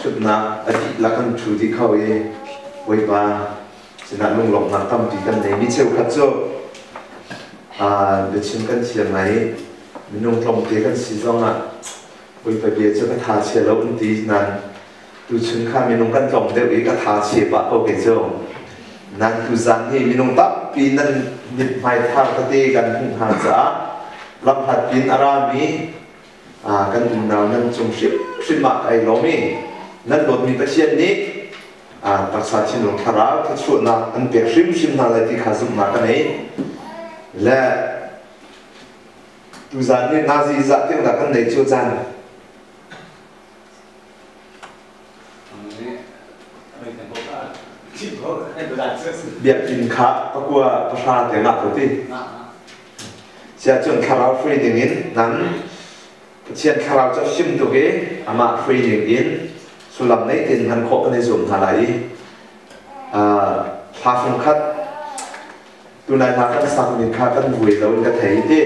ṭhutnak a dihlak an ṭhu dih kho i Bawipa sinah lunglawmhnak tampi kan nei. Mi cheukhat cu biachim kan thiam ngai i minung tlawmte kan si zongah Bawipa bia cu ka thaachia lo an ti nan tuchun kha minung kan tlawm deuh i ka thaachia pah ko kei cu nan tuzan hi minung tampi nan mithmai thar tete kan hmuh hna caah lamhlat pin a rami kan unau nan cung hrim ah ka ei lawm i nan dawtmi Pathian nih taksa thinlung thlarau thluachuahnak an pek hrimhrim hna lai ti kha zumhnak ka nei le tuzan nih nazi zah tiang dah kan nei cu caan biakinn kha pakua pahra te ngah ko ti sia cun thlarau free ding in nan pathian thlarau cu sim tuk i amah free ning in sullam nei tin hman khawh kan i zuam hna lai i thla fungkhat tunai hla kan sak ning kha kan vui lo in ka thei ti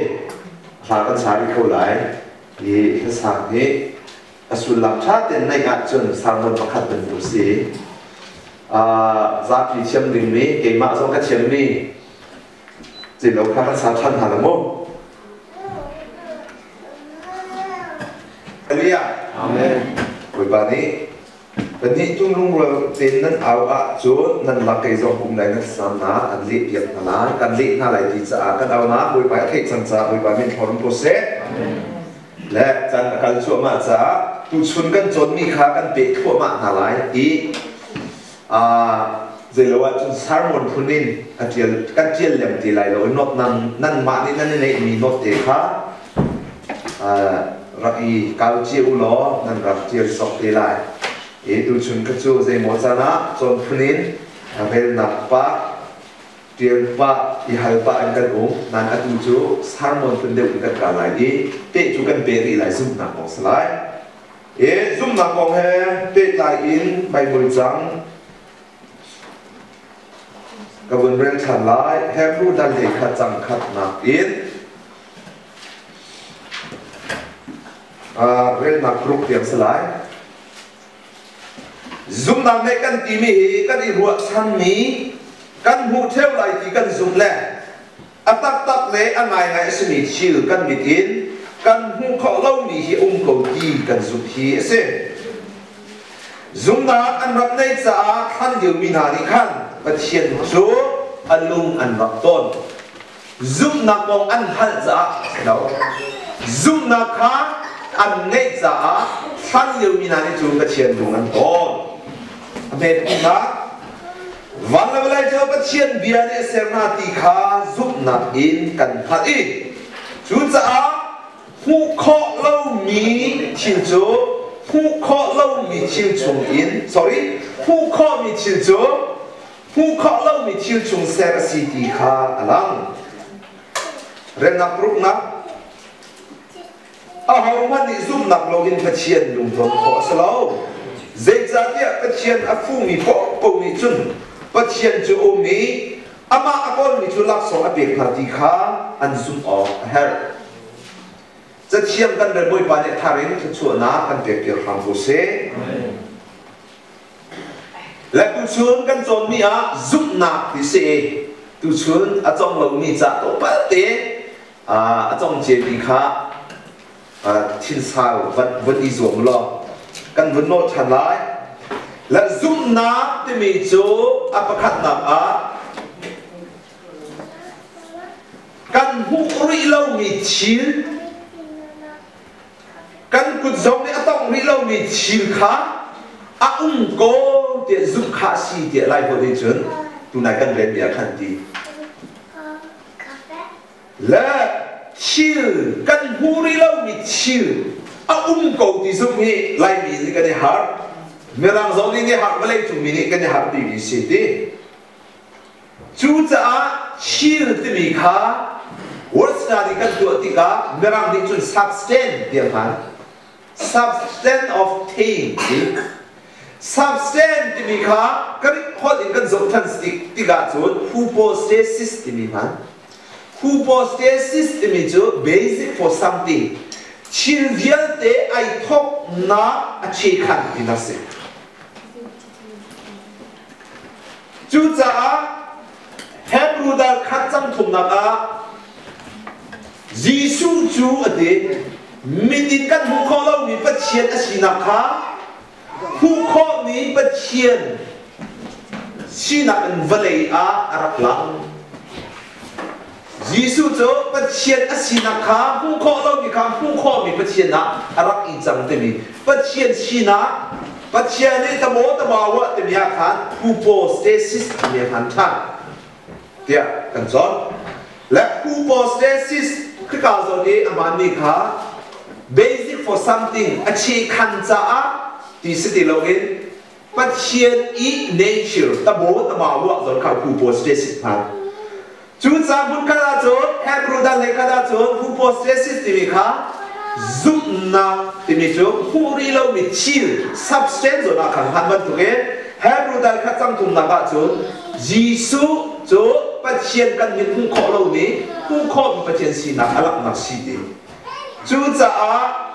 hla kan sa rih ko lai i kan sak hi a sullam ṭha tein neih ahcun sermon pakhat bantuk si. Uh, zapi thiam dingmi, keimah zong ka thiammi cin lo kha kan sa ṭhan hna lamu. Hallelujah. Amen. Bawipa nih Pahnih tu lungrual tein nan au ahcun nan lak kei zong kum lai nan sam na an leh piak hna lai kan leh hna lai ti caah kan au na Bawipa a theih cang caah Bawipa min thlawrum ko seh. Amen. le can a kal cuahmah caah tuchun kan cawnmi kha kan peh thluahmah hna lai ti zeilo ahcun sermon phun in a tial kan tial lem ti lai lo not nang nangmah nih nan i neihmi note kha rak i kal cia u law nan rak tial sok te lai i tuchun ka cu zeimaw can ah cawn phun in velnak pa ṭial pah i hal pah in kan um nain atu cu sermon phun deuh in kan ka lai i teh cu kan pe rih lai zumhnak kong si lai e zumhnak kong he pehtlai in maimul cang ka vun rel ṭhan lai hebrew dal he kha cang khat nak in uh, relnak group tiang si lai Zumhnak ngeih kan timi hi kan i ruahchanmi kan hmuh theo lai ti kan zumh le a taktak le a ngaingai a simi thil kan mit in kan hmuh khawh lomi hi a um ko ti kan zumh hi a si. Zumhnak an rak neih caah thlan liomi hna nih khan Pathian cu a lung an rak tawn. zumhnak kong an hngalh caah lo zumhnak kha an ngeih caah hlan liomi hna nih cun Pathian lung an kawl a hmelpinak van le vawlei cu Pathian bia nih a ser hna ti kha zumhnak in kan hngalh i cucaah hmuh khawh lomi thil cu hmuh khawh lomi thil chung in sorry hmuh khawhmi thil cu hmuh khawh lomi thil chung ser a si ti kha a lang. Remnak ruknak ahohmanh nih zumhnak loin Pathian lungdon khawh a si lo. Zeicahtiah Pathian a fumi paohpaoh nih cun Pathian cu a um i amah a kawlmi cu laksawng a pek hna ti kha an zumh awk a herh. Cathiang kan rel Bawipa nih a thar in thluachuahnak kan pekpiak hram ko seh. Lemchun kan cawnmi ah zumhnak ti si tuchun a cong lomi ca to palte a cong ciami kha thinsau vun i zuam law kan vun nawh ṭhan lai la zumhnak timi cu a pakhatnak ah kan hmuh rih lomi thil kan kut zong nih a tong rih lomi thil kha a um ko tiah zumh kha a si tiah lai huat nih cun tunai kan renmi ah khan ti le thil kan hmu rih lomi thil a um ko ti zumh hi laimi nih kan i harh mirang zong nih nih harh vawlei cungmi nih kan i harh ti mi si ti Cucaah shield timi kha word study kan tuah tikah Mirang nih cun substance tiah hman. Substance of things Substance timi kha Greek holh in kan zohṭhan tikah cun hypostasis timi hman. Hypostasis timi cu basic for something thil vialte ai thoknak a chekhanh tinak si. Cucaah Hebrew dar khat cang thumnak ah Jesuh cu a din midin kan hmuh khawh lomi Pathian a sinak kha hmuh khawhmi Pathian sinak in vawlei ah a rak lang. Jesuh cu Pathian a sinak kha hmuh khawh lomi kha hmuh khawhmi Pathian ah a rak i cang timi Pathian sinak Pathian nih tamaw tamaw ah timi ah khan hypostasis timi a hman ṭhan tiah kan cawn. Le hypostasis khika zawn i a hmanmi kha basic for something a chehkhan caah ti si ti loin Pathian i nature tamaw tama ruah zong kha phu post te si hna. Cu ca hmun kal ahcun Hebrew dan lei kal ahcun phu post te si timi kha zumhnak timi cu hmuh rih lomi thil substance zon ah khan hman bantuk in Hebrew dal kha cang thumnak ahcun Jesuh cu Pathian kan mit hmuh khawh lomi hmuh khawhmi Pathian sinak a langhnak si ti. Cucaah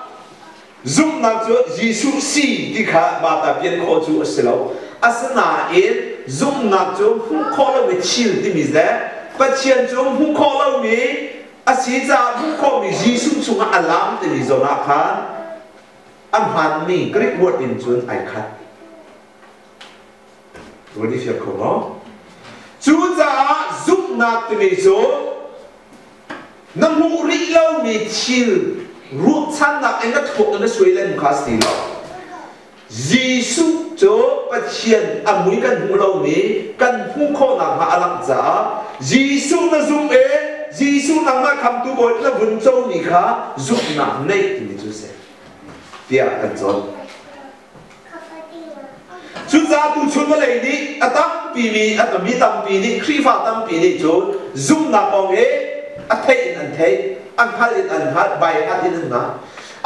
Zumhnak cu Jesuh si ti kha Martha fian khawh cu a si lo. Asinain zumhnak cu hmuh khawh lomi thil timi si teh Pathian cu hmuh khawh lomi a si caah hmuh khawhmi Jesuh chungah a laam timi zawn ah khan a hmaanmi Grik word in cun ai khat. Ruat i fiak ko maw. Cu caah zumhnak timi cu na hmuh rih lomi thil ruahchannak in na thawk in na suai len kha a si lo. Jesuh cu Pathian a mui kan hmu lomi kan hmuh khawh nakhnga a langh caah Jesuh na zumh i Jesuh nangmah khamtu bawi na vun comi kha zumhnak neih timi cu a si tiah kan cawn. Cucaah tuchun vawlei nih a tampimi a tumi tampi nih Khrihfa tampi nih cun zumhnak kong i a theih in an theih, a hngalh in an hngalh, baihat in an hngalh.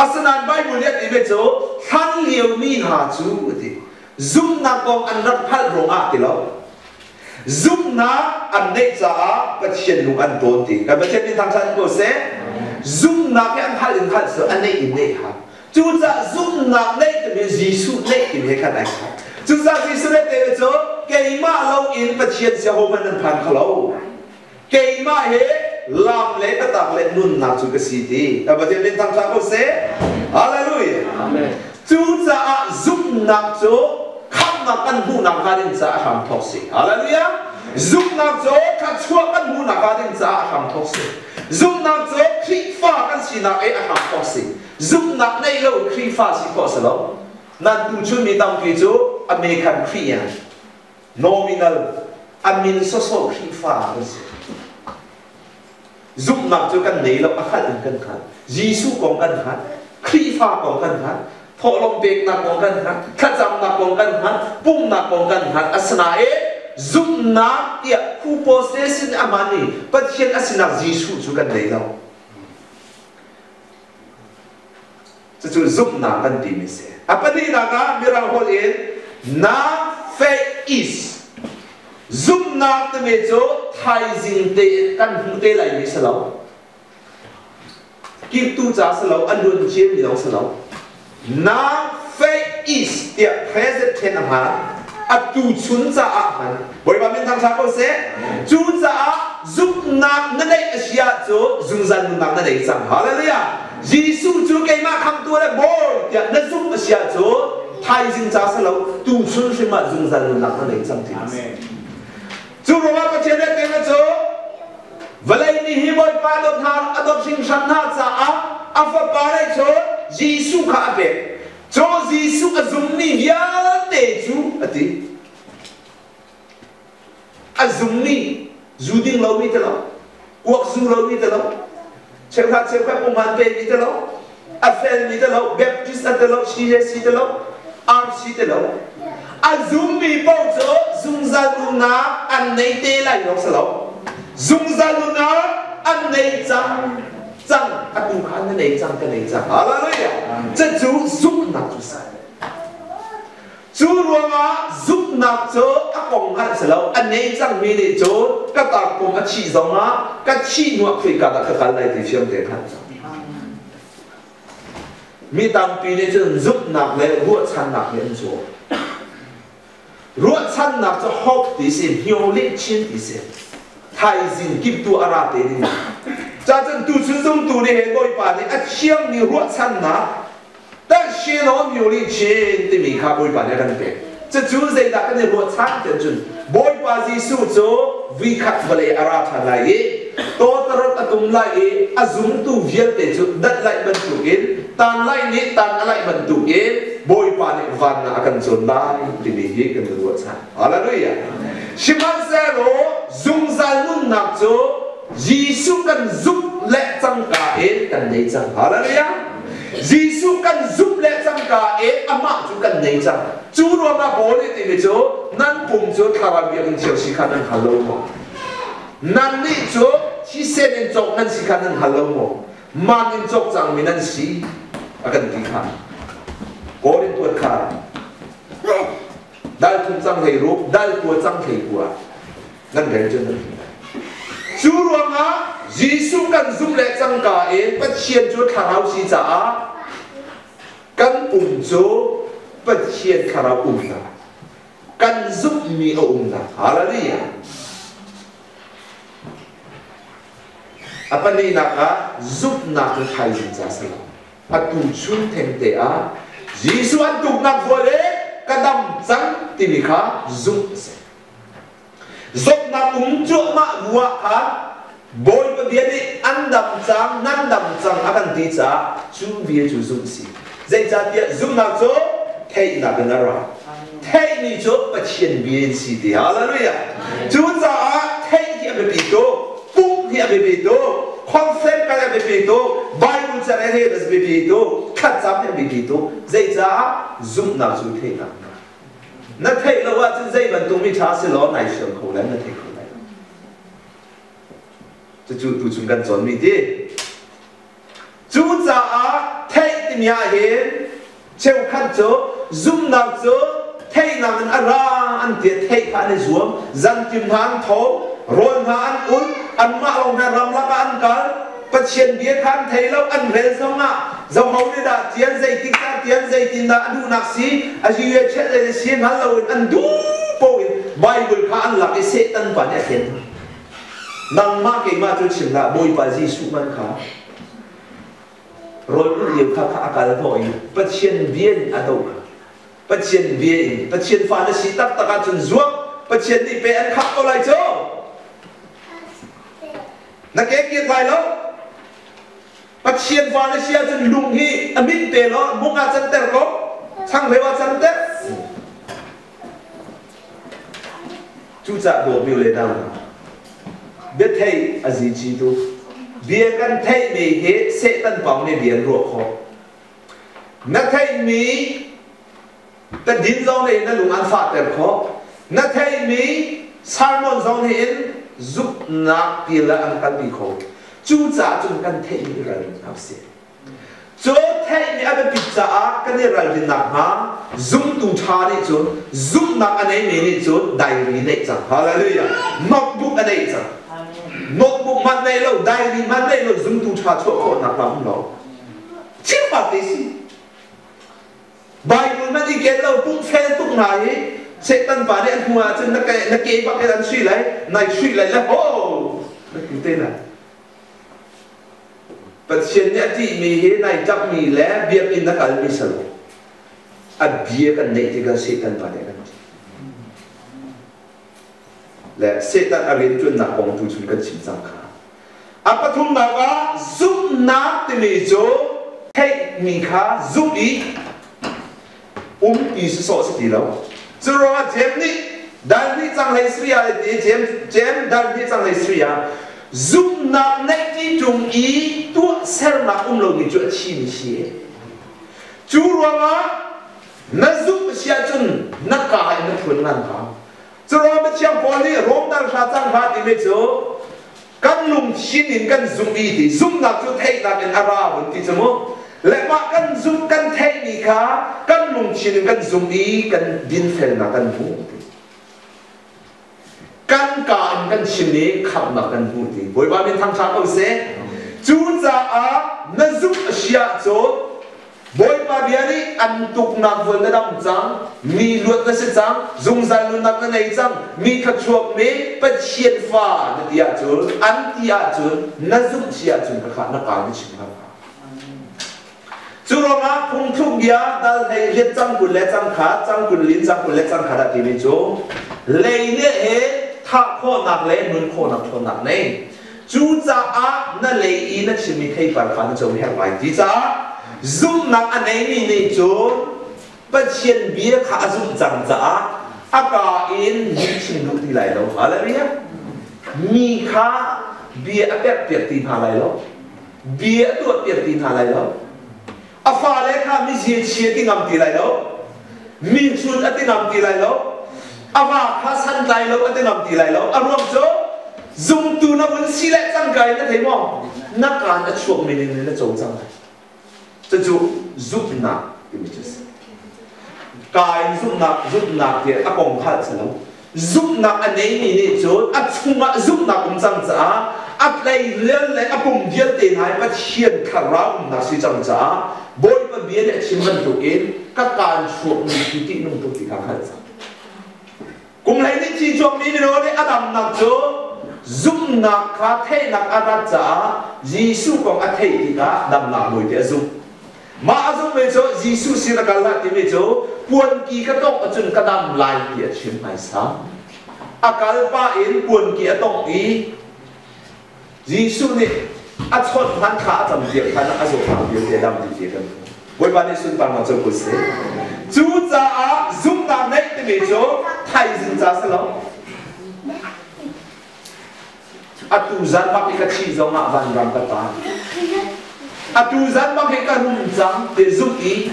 Asinain Baibal nih a ti ve cu hlan liomi hna cu a ti. Zumhnak kong an rak hngalh ruangah ti lo. Zumhnak an ngeih caah Pathian lung an ṭawn ti. Kan Pathian min thang hlah ko seh. Zumhnak hi an hngalh in hngalh cu a neih in neih hlah. Cucaah zumhnak ngeih timi Jesuh ngeih timi khan ai khat. Cucaah Jesuh nih tein cu keimah loin Pathian si hohmanh an phan kho lo. Keimah he lam le ka tak le nunnak cu ka si ti ka Pathian min thang hram u sih. Hallelujah. Amen. Cucaah zumhnak cu khamhnak kan hmuh nakhnga ding caah hram thawk si. Hallelujah. Zumhnak cu thluachuah kan hmuh nakhnga ding caah hram thawk si. Zumhnak cu Khrihfa kan sinak i a hram thawk si. zumhnak nei lo Khrihfa si khawh a si lo. Nan tu cun mi tampi cu American Khrihia, nominal, a min sawsawh Khrihfa an si. Zumhnak cu kan nei lo, a hngalh in kan hngalh. Jesuh kong kan hngalh, Khrihfa kong kan hngalh, thawhlawm peknak kong kan hngalh, thlacamnak kong kan hngalh, pumhnak kong kan hngalh. Asinain zumhnak tiah kupos tesin a hman i Pathian a sinak Jesuh cu kan nei lo. Cucu zumhnak kan timi si. A pahnihnak ah Mirang holh in na faith is. Zumhnak timi cu thaizing te kan hmu te lai mi si lo. Kirtu ca si lo, an luan cia mi lawng si lo. Nang is tiah present tense a hmaan atu chun caah hman Bawipa min thang hla ko seh cu caah zumhnak na neih a si ahcun zungzal nunnak na nei cang hallelujah Jesuh cu keimah khamtu le bol tiah na zumh a si ahcun thaizing ca salo tu chun hrim ah zungzal nunnak na nei cang ti a si Cu ruangah Pathian nih keimah cu vawlei ni hi Bawipa dawt hna a dawt hringhran hna caah a fapa nih cun Jesuh kha a pek. Cu Jesuh a zummi vialte cu a ti. A zummi, zu ding lomi ti lo, kuak zu lo mi te lo cheukhat cheukhat um han pe mi te lo a fel mi te lo baptist an te lo CAC te lo RC te lo a zum mi paoh cu zungzal nunnak an nei te lai lo sa lo zungzal nunnak an nei cang cang a tu khan na nei cang ka nei cang hallelujah cu zumhnak cu sai Cu ruangah zumhnak cu a kong hngalh si lo, a nei cangmi nih cun ka tarpum a thih zongah ka thihhnuah khoika dah ka kal lai ti fiangte a hngalh. Mi tampi nih cun zumhnak le ruahchannak hi an zuam. Ruahchannak cu hope ti si, hmyo leh chin ti si, thaizing kip tu a ra te ding. Cacun tu chun zumtu nih he Bawipa nih a thiammi ruahchannak Tanh Shin Aung Myu nih Chin timi kha Bawipa nih a kan pek. Cucu zeidah kan i ruahchan tiah cun Bawipa Jesuh cu vikhat vawlei a ra ṭhan lai i tawtrawt a tum lai i a zumtu vialte cu dat laih bantukin tanlaih nih tan a laih bantukin Bawipa nih vannak a kan cawn lai timi hi kan kan ruahchan. Hallelujah! Sihmanhsehlaw zungzal nunnak cu Jesuh kan zumh le cangka in kan nei cang. Hallelujah! Jesuh kan zumh le cangka in amah cu kan nei cang. Cu ruangah Bawi timi cu nan pum cu thlarau biakinn cio si kha nan hngal lo maw? Nan nih cu thisen in cawk nan si kha nan hngal lo maw? Man in cawk cangmi nan si a kan ti kha. Korinth huat kha dal thum cang hlei ru, dal tua cang hlei tua. nan rel cun nan hmuh. Cu ruangah Jesuh kan zumh le cangka in Pathian cu thlarau si caah kan pum cu Pathian thlarau umnak kan zumhmi a umnak hallelujah a pahnihnak ah zumhnak in thaizing ca si lo atu chun thengte ah Jesuh an tuknak vual le ka dam cang timi kha zumh a si Zoknak um cuahmah hnu ah khan Bawipa bia nih an dam cang, nan dam cang a kan ti caah cu bia cu zumh a si. Zeicahtiah zumhnak cu theihnak in a ra. Theihmi cu Pathian bia in si te. Halleluja! Cucaah theih hi a biapi tuk, pumh hi a biapi tuk, concept kal a biapi tuk, Baibal carel hi a biapi tuk, thlacam hi a biapi tuk. Zeicaah? Zumhnak cu theihnak in a ra. Na theih lo ahcun zei bantuk mi ṭha si law nai hrial kho lai, na thei kho lai. Cucu tu chung kan cawnmi ti. Cu caah theih timi ahhin cheukhat cu zumhnak cu theihnak in a ra an ti theih kha an i zuam zangtim hna an thawm rawl hna an ulh anmah lawng he ramlak ah an kal Pathian bia kha an thei lo an rel zong ah zoho nih dah tian zeitik dah tian zeitin dah an hmuhnak si a ziwe chiah le si hngal loin an dupo in Bible kha an lak i Satan pa nih a thlen nangmah keimah cu chim hlah Bawipa Jesuh man kha Rawl liam kha kha a kal hnawh i Pathian bia in a do Pathian bia in Pathian fa na si taktak ahcun zuang Pathian nih pe an khah ko lai cu na ke kiat lai lo Pathian fa na si ahcun lung hi a minh te law mung ah canter ko changhhleu ah canter cucah dawmi le dang biathei a zici tu bia kan theihmi hi Satan pang nih bia an ruah khawh na theihmi ka din zong nih na lung an fahter khawh. Na theihmi sermon zong nih in zumhnak til ah an kalpi kho. Cucaah cun kan theihmi i ralring hna usih. Cu theihmi a biapit caah kan i ralrin nakhnga zumtu ṭha nih cun zumhnak a neimi nih cun diary a neih cang. Hallelujah! Notebook a neih cang. Notebook hmanh neih lo, diary hmanh neih lo, zumtu ṭha chuah khawhnak lam um lo. Chiapate si. Baibal nan i kel lo pumfel tuk hna i Satan pa nih a hnu ah cun na ke, na ke bak in an sui lai, nai sui lai la ho na ti te na. Pathian nih a ṭihmi hi nai ṭakmi le biakinn a kalmi si lo. A bia kan neih tikah Satan pa nih kan ṭih. Le Satan a rianṭuannak kong tu cun kan chim cang kha A pathumnak ah zumhnak timi cu theihmi kha zumh i umpi sawsawh si ti lo. Cu ruangah Jeim nih dan hnih canglei Sri ah ti Jeim, Jeim dan hnih canglei Sri ah zumhnak neihṭi ṭung i tuahsernak um lomi cu a thimi si e. Cu ruangah na zumh a si ahcun na kaa in na phuan ngan hna. Curuang mithiang Paul nih Rom danhra canghraan image cu kan lungthin in kan zumh i ti zumhnak cu theihnak in a ra hun ti cu mu le mah kan zumh kan theihmi kha kan lungthin in kan zumh i kan dinfelnak kan hmu kan kaa in kan chim i khamhnak kan hmu ti Bawipa min thangṭhat ko seh cu caah na zumh a si ahcun Bawipa bia nih an tuknak vual na dam cang, mi luat na si cang, zungzal nunnak na ngei cang, mi thluachuak men Pathian fa na ti ahcun, an ti ahcun na zumhsi ahcun ka thlah na kai na chim hna. Cu ruangah phungthluk bia dal hei hliat cang kun le cang kha, cang kun lin cang kun le cang kha dah timi cu, lei nih hin thah khawhnak le nun khawhnak ṭhawnnak nei. Cucaah na lei i na chimmi theipar kha na cung i herh ngai ti caah zumhnak a neimi nih cun Pathian bia kha a zumh cang caah a ka in lihchim duh ti lai lo Valeria. Mi kha bia a pekpiak ti hna lai lo. Bia a tuahpiak ti hna lai lo. a fale kha mizial chiat i ngam ti lai lo min chun a ti ngam ti lai lo a va kha santlai lo a ti ngam ti lai lo a ruang cu zumtu na vun si le cangka in na thei maw na kaan a chuak men in na co cang cucu zumhnak timi cu si ka in zumhnak zumhnak tiah a kong kha a lo zumhnak a neimi nih cun a chungah zumhnak um cang caah a leirial le a pum vialte hna hi Pathian thlarau umnak si cang caah Bawipa bia nih a chim bantukin ka kaan chuakmi khi ṭihnung tuk ti kha hngalh cang. Kum hleihnih ci cuangmi minung nih a damnak cu zumhnak kha theihnak a rat caah Jesuh kong a theih tikah damnak bawite a zumh. Mah a zumhmi cu Jesuh sin a kal hlah timi cu puanki ka tongh ahcun ka dam lai ti a chim hmaisa. A kal pah in puanki a tongh i Jesuh nih a chawnh hmanh kha a campiak hlan ah a zawtnak vialte a dam dih ti kan hmuh. Bawipa nih sunparnak ma co ko seh. Cu caah zumhnak ngeih timi cu thaizing ca si lo. Atu zan bak i ka thih zong ah vanrang ka tan. Atu zan bak i ka rum cang te zumh i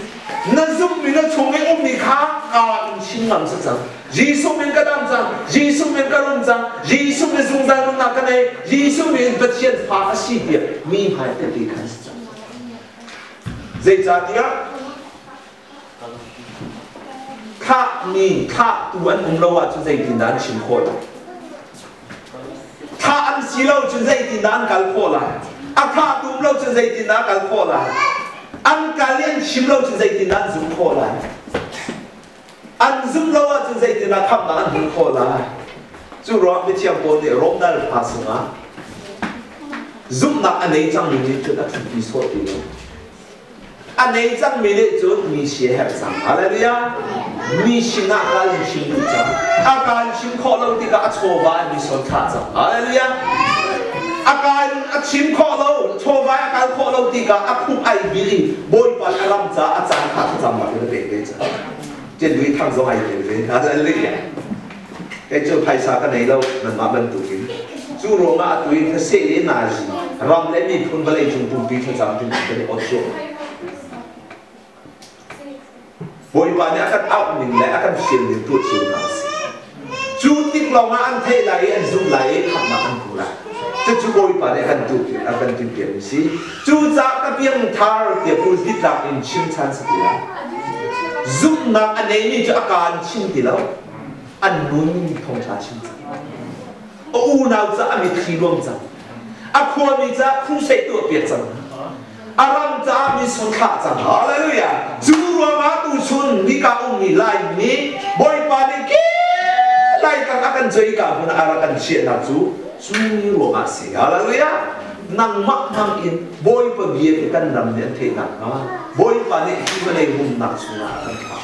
na zumh i na chung i um i kha kaa in chim ngam sa cang. Jesuh min ka dam cang. Jesuh min ka rum cang. Jesuh nih zungzal rumnak ka nei. Jesuh nih Pathian fa a si tiah mi hmai ka ti khan sa cang. Zeicahtiah Thlakmi thlaktu an um lo ah cu zeitindah an chim khawh lai? Thlah an si lo cu zeitindah an kal khawh lai? A thlahtu um lo cu zeitindah an kal khawh lai? An kal i an chim lo cu zeitindah an zumh khawh lai? An zumh lo ah cun zeitindah khamhnak an hmuh khawh lai? Cu ruangah mithiang Paul nih Rom dal hna chungah zumhnak a nei cangmi nih cun a thutpi sawh ti lo. A nei cangmi nih cun mi si a herh cang. Hallelujah! Mi sinah kan chim dih cang. A kan chim khawh lo tikah a chawva in mi sual thlah cang. Hallelujah! A kan a chim khawh lo, chawva a kal khawh lo tikah a khung ai bil in Bawipa nih a lam ca a caan kha cang bak in a pek ve cang. Chen lui thang zong ai tel ve. Hallelujah! kei cu phaisa ka nei lo nanmah bantukin cu ruangah atu i thase le nazi ram le miphun vawlei cung pumpi thlacam tin kan i awtchung Bawipa nih a kan auh ning le a kan fial ning tuah cu hna si cu tik lawngah an theih lai i an zumh lai i khamhnak an hmu lai cucu Bawipa nih a kan tu a kan timpiak mi si cucaah ka piangthar tiah pulpit tlak in chim chan si ti lai zumhnak a nei mi cu a kaan chin ti lo an numu mi thawngṭha chim cang a unau caah mitthli luang cang a khuami caah crusade tuahpiak cang a ram caah mission thlah cang hallelujah cu ruangah tu chun nika ummi laimi bawipa nih ke lai kang a kan joy ka hmun a rak kan chiahnak cu cu ni ruangah si hallelujah nangmah hmangin bawipa biak kan ram nih an theih nakhnga bawipa nih hi vawlei rumnak chungah a kan thlah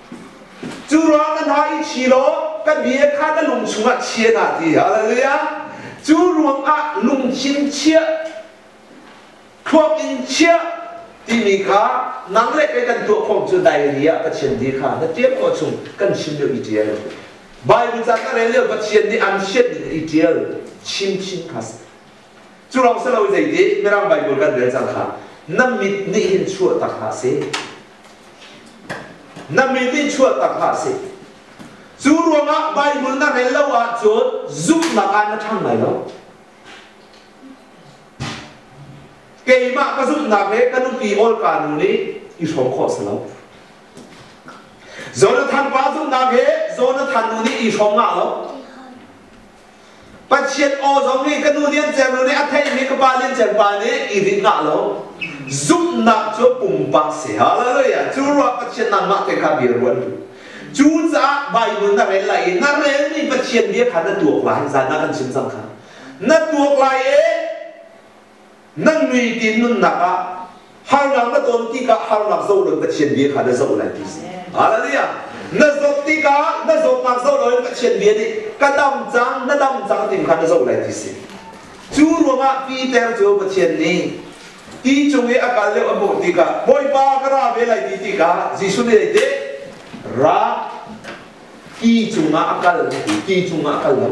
Cu ruang kan ha i thi law kan bia kha na lung chungah chia na ti. Hallelujah. Cu ruangah lungthin chiah, thluak in chiah timi kha nang le kei kan tuah khawm cu diary ah Pathian ti kha na tial khawh chung kan chim lio i tial. Bible caan na rel lio Pathian nih an chiat ning i tial chinchin kha si. Cu lawng si lo zeiti Mirang Bible kan rel cang kha na mit nih hin chuah tak hlah seh. Na mit i chuah tak hlah si. Cu ruangah Baibal na rel lo ahcun zumhnak ah na ṭhang lai lo. Keimah ka zumhnak he ka nupi olka nu nih i hrawm khawh si lo. Jonathan pa zumhnak he Jonathan nu nih i hrawm nga lo. Pathian aw zong nih ka nu liancer nu nih a theihmi ka pa liancer pa nih i rit ngah lo zumhnak cu pumpak se hallelujah cu ruah Pathian nangmah te kha bia ruan cu caah Baibal na rel lai i na relmi Pathian bia kha na tuak lai zan ah kan chim cang kha na tuak lai e nan nui tiin nunnak ah harnak na ton tikah harnak zohloin Pathian bia kha na zoh lai ti si. Hallelujah. Na zoh tikah na zawtnak zohloin Pathian bia nih ka dam cang na dam cang ti kha na zoh lai ti si. Cu ruangah Peter cu Pathian nih ti cung i a kal deuh a hmuh tikah Bawipa ka ra ve lai ti tikah Jesuh nih ai deh ra ti cungah a kal ti cungah a kal lo.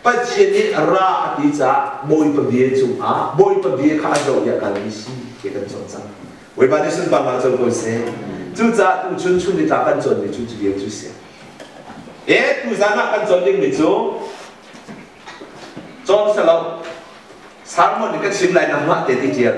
Pathian nih ra a ti caah Bawipa bia cungah Bawipa bia kha a zoh i a kalmi si ti kan cawn cang. Bawipa nih sunparnak a cawn ko seh. Cucaah tuchun chun ni tla kan cawnmi cu cu vial cu a si. E, tuzan ah kan cawn dingmi cu cawn selaw sermon nih ka chim lai nangmah te ti ṭial.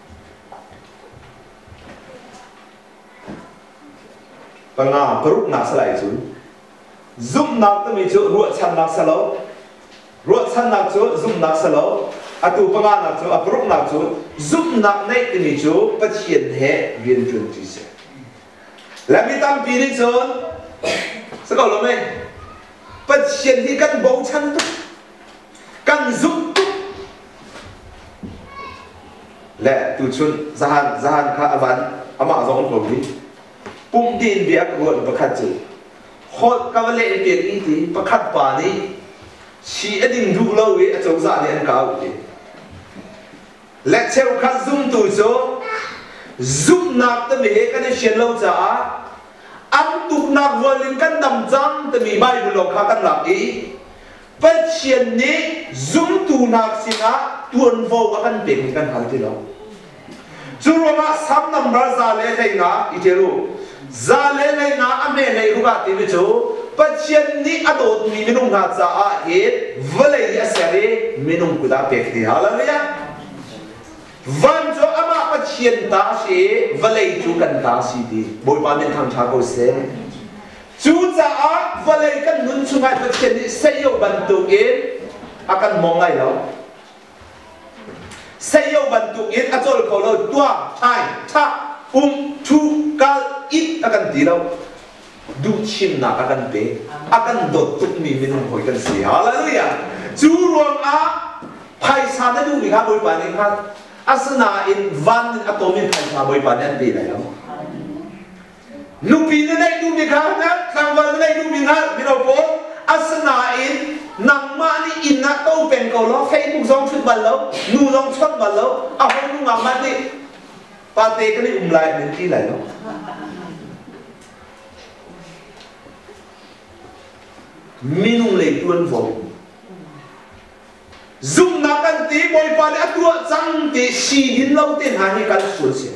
Panga paruknak salai cu zumhnak timi cu ruahchannak salo ruahchannak cu zumhnak salo atu panganak cu a paruknak cu zumhnak neih timi cu Pathian he rian ṭuanṭi si le mi tampi nih cun si ko lo mei Pathian hi kan bochan tuk kan zumh tuk le tuchun zahan zahan kha avan amah zong an kom hi pum tin bia ka ruat pakhat cu hot ka va len pian i ti pakhat pa nih si a ding duh lo i a cozah nih an kau ti Le cheukhat zumtu cu zumhnak timi he kan i sian lo caah an tuknak rual in kan dam cang timi Baibal lawng kha kan lak i Pathian nih zumtu hna sinah tuanvo a kan pekmi kan hal ti lo. Cu ruangah Salm namral za le hleinga i ṭial u. za le leinak a hme lei ruka timi cu Pathian nih a dawtmi minung hna caah hi vawlei i a ser i minung kut ah pek hni hallelujah van cu amah Pathian ta si i vawlei cu kan ta si ti Bawipa nih thangṭha ko seh cucaah vawlei kan nun chungah Pathian nih sei bantukin a kan mawng lai lo seio bantuk in a col ko lo tuang thlai thak pum thu kal it a kan ti lo duhthimnak a kan pe a kan dawt tukmi minung hawi kan si hallelujah cu ruangah phaisa na duhmi kha bawipa nih hngal asinain van in atom in phaisa bawipa nih an pe lai lo Nupi na neih duhmi kha tlangval na neih duhmi hna mino pawl asinain nangmah nih inn ah ko peng ko law Facebook zong chut bal lo nu zong chawnh bal lo a hoi nungak mah nih pate kan i um lai min ti lai lo minung lei tuan vo zumhnak kan ti bawipa nih a tuah cang ti si hin lo te hna hi kan sual si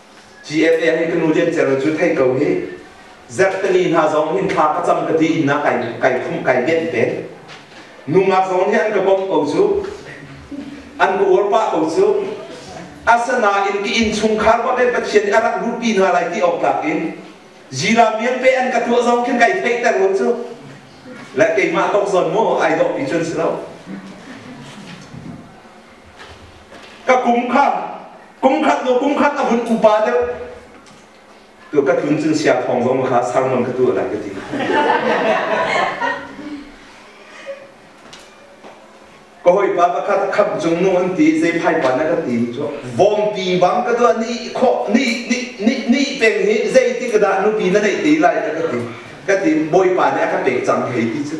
GFM hi ka nu Jenchero cu thei ko hi Zektali hna zong hin thla ka cam ka ti innak kai kai khum kai bianh pen nungak zong hi an ka bawmh ko cu an ka uar pa ko cu asanain ka inn chungkhar pa pe pathian nih a rak luhpi hna lai ti awk tlak in zira biang pe an ka tuah zong khin kai theihter lo cu la keimah tok zawn mu ai dawh pi cun si lo ka kum kha kum khat lo kum khat a hun upa deuh tu ka tlun cun siang phong zong kha sermon ka tu lai ka ti ka hoi pa pakhat khap chung nu an ti zei phai pa na ka ti chu vom pi bang ka tu ni kho ni ni ni ni peng hi zei ti ka da nu pi na nei ti lai ka ti ka ti boy pa ne ka pek chang thei ti chu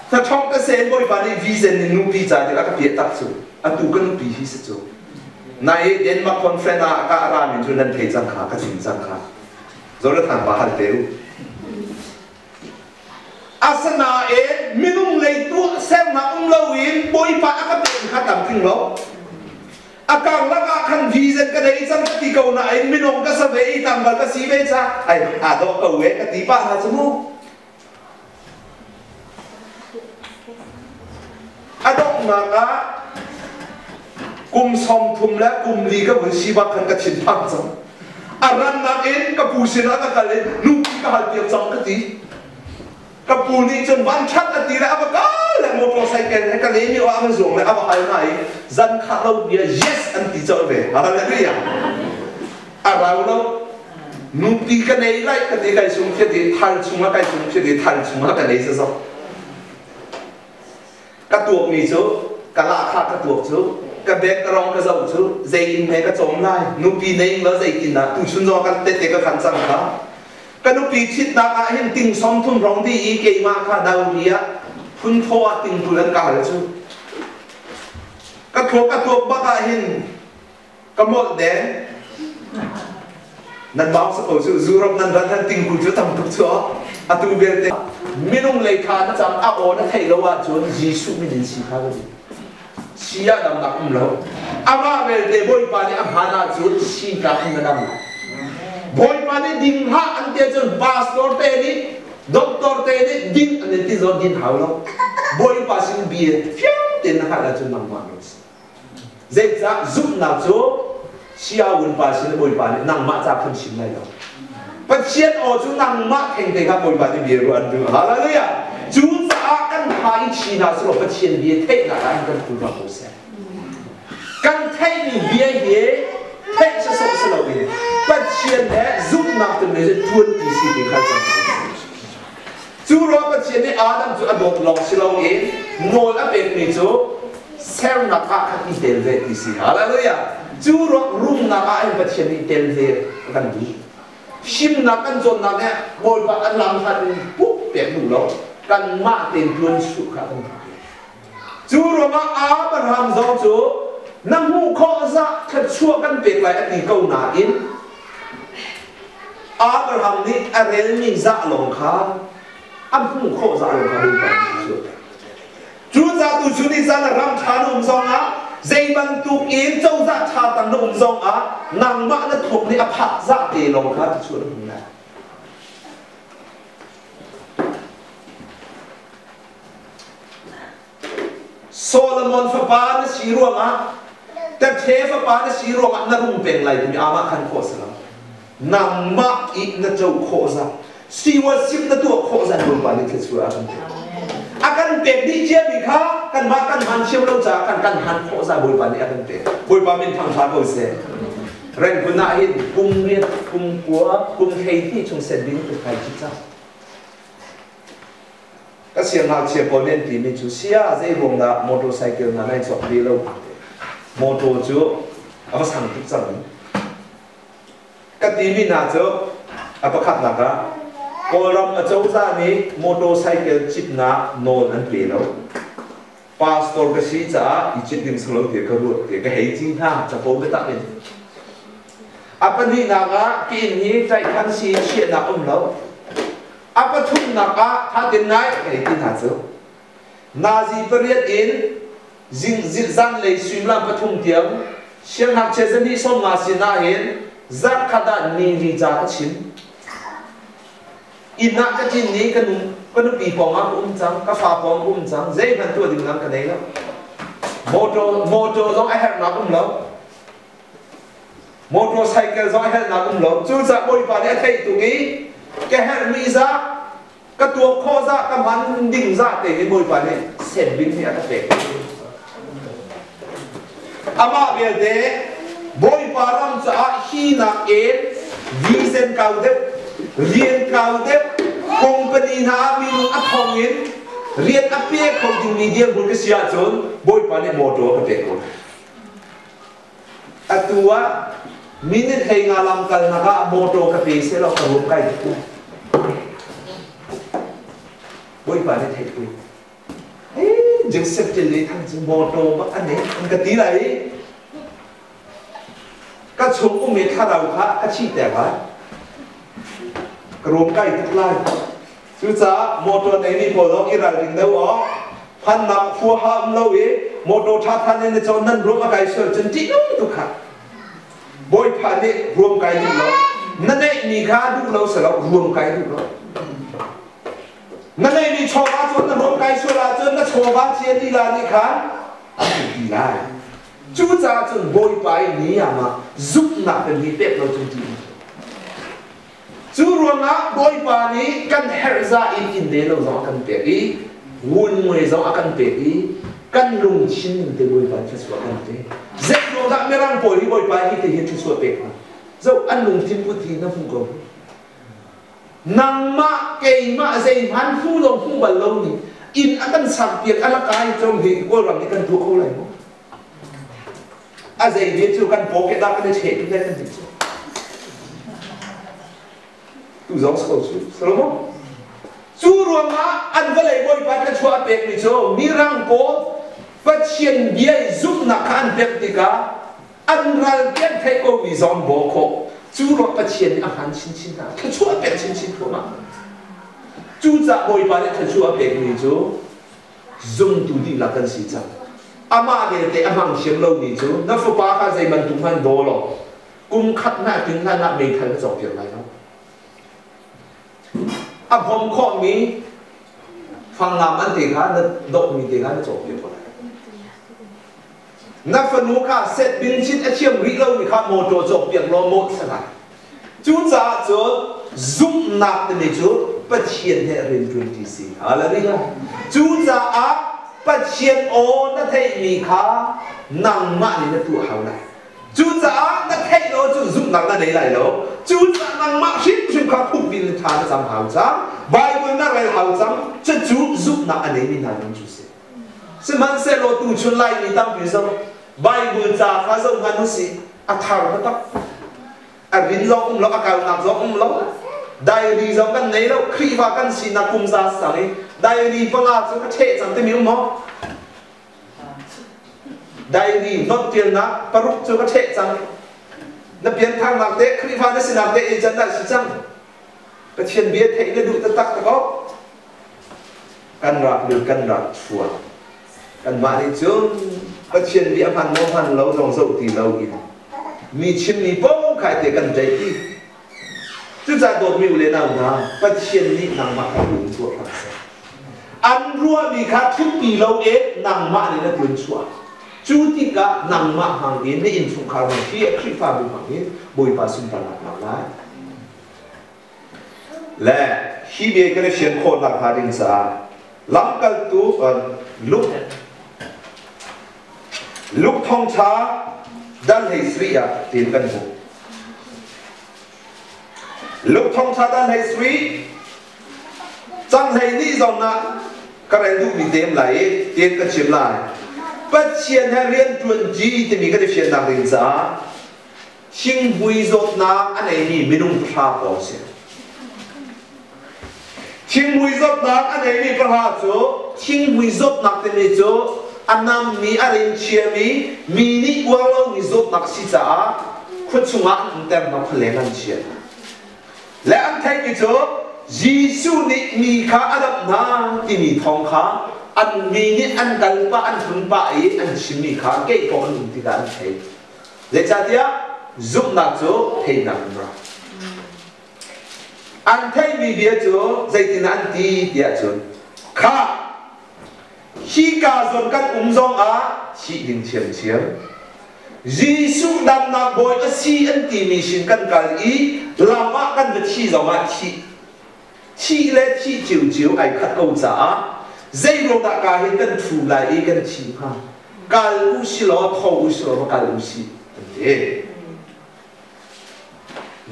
Thathawk ka sen bawipa nih vision in nupi ca dir a ka piah tak cu atu ka nupi hi si cu na i Denmark conference ah ka rami cu nan thei cang kha ka chim cang kha Jonathan pa hal te u asinain minung lei tuah semnak um lo in bawipa a ka pek kha tam thing lo a karlak ah khan vision ka nei cang ka ti ko na in minung ka sa ve i tambal ka si ve cha ai a do ko e ka ti pa hna cu mu A donghnak ah kum sawm thum le kum li ka voi si bak khan ka thin phang cang. A rannak in ka pu sinah ka kal i nu ka hal piak cang ka ti. Ka pu nih cun van chat a ti le a va kal le motor cycle he ka le mi a van zuang le a va hal na i zan kha ro ni yes an ti cang ve. A ra le ke ya. a rau lo nupi ka nei lai ka ti kai sung phiate thal chunga kai sung phiate thal chunga ka nei sazok ka tuak mi cu ka la kha ka tuak cu ka bek ka rong ka zo cu zei in hei ka chom lai nupi nei lo zei tin dah tu sun zo kan te te ka kan chang ka ka nupi thitnak ah hin ting som thun rong di i keima kha dau dia phun tho a ting tu lan ka hal chu ka thuak ka tuak bak ah hin ka molh de nan mau sa ko cu zuram nan ran han ting ku cu tam tuk chu atu belte minung lei kha na cang a aw na thei lo ah cun Jesuh min in si kha ka zi sia dam nak um lo ama belte bawipa nih a hman ah cun si ka in nan lai bawipa nih ding ha an te cun pastor te nih doctor te nih din an ti zo din hau lo bawipa sin bi fiang tin ha la cun nangmah lo si Zeicah zumhnak cu Sia-un pa sin le Bawipa nih nangmah ca khan chim lai lo? Pathian aw cu nangmah theng te kha Bawipa nih bia ruah an ril. Halleluja! Cu caah kan tha i thi hna selaw Pathian bia theihnak ah hin kan tlu hna ko seh. Kan theihmi bia hi theih sawsawh si loin Pathian he zumhnak tlunglei cu ṭuanṭi si ti kha cang hna u sih. Cu ruang Pathian nih Adam cu a dawt lawng si loin nawl a pekmi cu sernak ah khan i tel ve ti si. Hallelujah! Cu ruang rumnak ah hin Pathian i tel ve a kan duh. Himnak kan cawnnak nih Bawipa a lam hlat in pumh pek duh lo, kanmah tein ṭuan chuh kha kan duh ve. Cu ruangah Abraham zong cu na hmuh khawh zah thluachuah kan pek lai a ti ko nain Abraham nih a relmi zah lawng kha an hmuh khawh zah lawng kha Bawipa nih cu cu zah tu cu ni caan ram ṭha na um zongah zei bantuk in cozah ṭha tang na um zongah nangmah na thuk nih a phak zah te lawng kha ti cu na hmu lai Solomon fapa na si ruangah Tathe fapa na si ruangah na rung peng lai timi amah khan khawh salam nangmah i na co khawh zan si worship na tuah khawh zan Bawipa ni thluachuah a kan pek a kan pek ni cia mi kha kan mah kan han siam lo caah kan kan han khawh zan Bawipa ni a kan pek Bawipa min thangtha ko se reng kun ah hin kum nget kum kua kum thei ti chung set ding tu kai chit ca Ka siangngakchia pawl nih an timi cu sia zei ruang dah motor cycle hna nai cawk ve lo motor cu a va sang tuk cang ka timi hna cu a pakhatnak ah Kawlram a cozah nih motor cycle cipnak nawl an pe lo pastor ka si caah i cit ding solo te ka ruat te ka hei ti hna capo biatak in a pahnihnak ah ka inn hi tlaihkhan si chiahnak um lo a pathumnak ah thatin ngai ka hei ti hna cu nazi pariat in zingzilh zanlei suimilam pathum tiang siangngakchia zahnih som nga sin ahhin zarkhat ah ni li ca a chim Ihnak ka tlin ni ka, nu, ka nupi pawngah um cang, ka fa pawng um cang, zeihmanh tuah ding lam ka nei lo. Motor, motor zong a herhnak um lo. Motor cycle zong a herhnak um lo. Cucaah Bawipa nih a theih tuk i ka herhmi za, ka tuak kho za, ka man ding za te hi Bawipa nih sen ding hi a ka pek. Amah vialte Bawipa ram caah hi nakin visen kau deuh, rian kau deuh, company hna minung a thong in rian a pe kho dingmi dirhmun ka si ahcun Bawipa nih motor ka pek ko. Atu ah minute hei nga lamkalnak ah motor ka pe se law ka rum kai. Bawipa nih theih tu. Joseph ṭin nih thang cu mawṭaw bak an ei an ka ti lai i ka chung um i thlarau kha ka chihter lai ka rawm kai tuk lai cucaah mawṭaw neimi pawl zong i ralring deuh awk phannak huaha um lo i mawṭaw ṭha than in na cawn nan ruam a kai sual cun ṭih lo tu kha bawipa nih ruam kai duh lo na neihmi kha duh lo selaw ruam kai duh lo na ngeimi chawva cu na rum kai sual ahcun na chawva chia tila nih khan a ti lai cucaah cun bawipa i niyamah zumhnak kan hi pek lo cu ti cu ruangah bawipa nih kan herh za in inde lo zong a kan pek i ngunngwe zong a kan pek i kan lungthin te bawipa thluachuah kan pe zeiruang dah mirang pawl hi bawipa hi ti hin thluachuah pek hna zo an lungthin put hi na hmu ko nangmah keimah zeihmanh hnu lo hmu bal lo nih inn a kan sampiak a rak kai cang hi kawlram nih kan tuah kho lai maw a zei bia cu kan pocket ah kan i cheh tu kan ti tu zong so cu solomon cu ruangah an vale bawipa ka chuah a pek mi cu mirang pawl pathian bia i zumhnak kha an pek tikah an ral pianh thei komi zong bawh khawh cu ruak Pathian nih a hman chinchin hna thluachuah a pek chinchin thluahmah cucaah Bawipa nih thluachuah a pekmi cu zumtu dihlak kan si cang amah vialte a hmang thiam lomi cu na fapa kha zei bantuk hmanh daw law kum khat hna tling hlanah meithal na cawkpiak lai lo A hmawm khawhmi fangam an te kha na dokmi te kha na cawk te ko lai. Na fanu kha set bin chin a thiam rih lomi kha motor cawk piak law mawt sangah. Cucaah cun zumhnak timi cu Pathian he rianṭuanṭi si. Hallelujah. Cucaah Pathian aw na theihmi kha nangmah nih na tuah hau lai. Cucaah na theih lo cu zumhnak na ngei lai lo. Cucaah nangmah hrimhrim kha phukvin in ṭha na cam hau cang. Baibal na rel hau cang. Cucu zumhnak a neimi hna lung cu a si. Sihmanhsehlaw tuchun Laimi tampi zong Baibal ca kha zohhmanh u sih. A thar taktak. A vin zong um lo, a kalnak zong um lo. Diary zong kan nei lo. Khrihfa kan si na kum za sang i diary panga cu ka ṭheh cang timi um maw? Diary nonpialnak paruk cu ka ṭheh cang. Na piantharnak te, Khrihfa na sinak te i can ai si cang. Pathian bia theih na duh taktak ta ko. Kan rak bil kan rak chuak. Kanmah nih cun Pathian bia hman maw hman lo zong zoh ti lo in mi chim mi pom khai te kan tei i Cucaah dawtmi u le nau hna, Pathian nih nangmah a tlun chuah hram seh. An ruahmi kha ṭhutpi loin nangmah nih na tlun chuah. Cu tikah nangmah hmangin na innchungkhar hmang hi Khrihfabu hmangin Bawipa sunparnak hmang lai. Le hi bia kan i fian khawh nakhnga ding caah lamkaltu Luke Luk thong cha dan hlei sri ah tiin kan hmuh. Luk thong cha dan hlei sri cang hlei ni zong na ka ren duh mi tem lai tiin ka chim lai. Pathian he rian tuan ji timi kan i fiannak ding caah thinghmui zawtnak a neimi minung pahra pawng si. Thinghmui zawtnak a neimi pahra cu thinghmui zawtnak timi cu a nammi, a rinchiami, mi nih uar lomi zawtnak si caah khua chungah an umter hna khuale an chia hna. Le an theihmi cu Jesuh nih mi kha a damh hna timi thawng kha an mi nih an kalpah an thangpah i an chimmi kha keikawh an um tikah an theih. Zeicahtiah zumhnak cu theihnak in ra. An theihmi bia cu zeitin an ti tiah cun kha hika zon kan um zongah thih ding thiamthiam Jesuh damnak bawi a si an timi sin kan kal i lam ah kan va thi zongah thih thih le thih ciuciu ai khat ko caah zeiruangah ka hi kan ṭhu lai i kan thim hnga kal u si law tho u si law va kal u si an ti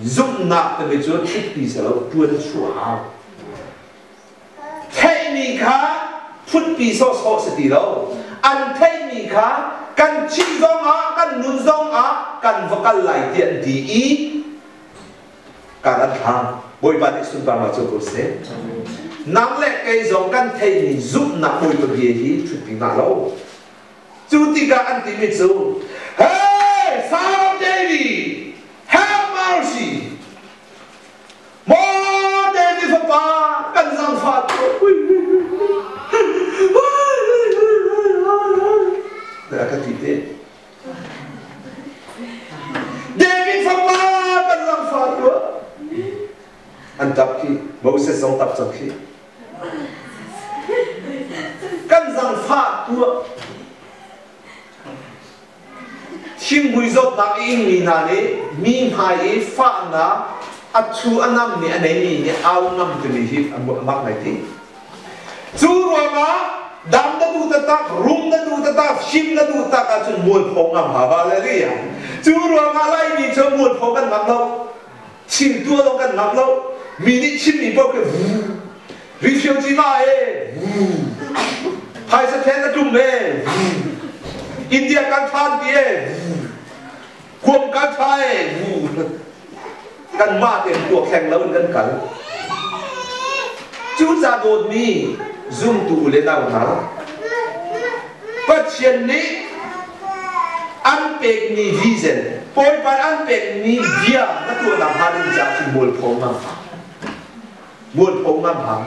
zumhnak timi cu thutpi si lo ṭuan chuah a hau theihmi kha thutpi sawhsawh si ti lo an theihmi kha kan thi zongah kan nun zongah kan va kal lai tiah an ti i Kaan an hlang. Bawipa nih sunparnak cu ko seh. Nang le kei zong kan theihmi zumhnak bawipa bia hi ṭhutpi ngah lo. Cu tikah an timi cu, Hey, Son of David, have mercy. More than ti fapa, kan zangfah tu. Ui, ui, ui, ui, ui, ui. Da ka ti te. David fapa Balam fa tu an tap khi Moses zong tap cang khi kan zang fa tu thingmui zawtnak i ing mi hna nih mi hmai i fahnak a thu a nam nih a nei mi nih au ngam timi hi a mak ngai ti Cu ruangah dam na duh taktak, rum na duh taktak, him na duh taktak ahcun mualpho ngam ha va le ri Cu ruangah Laimi cu mualpho kan ngam lo, chim tuah lo kan ngam lo, mi nih chimmi paoh khi rifio ci ma e, phaisa then a tum e, India kan than ti e, Huam ka thlai mu kan mah ten tua kheng lo in kan kal cu ca dawtmi zumtu le nau hna Pathian nih an pekmi vision Bawipa an pekmi bia na tuahnak hnga ding caah mualpho ngam mualpho ngam hang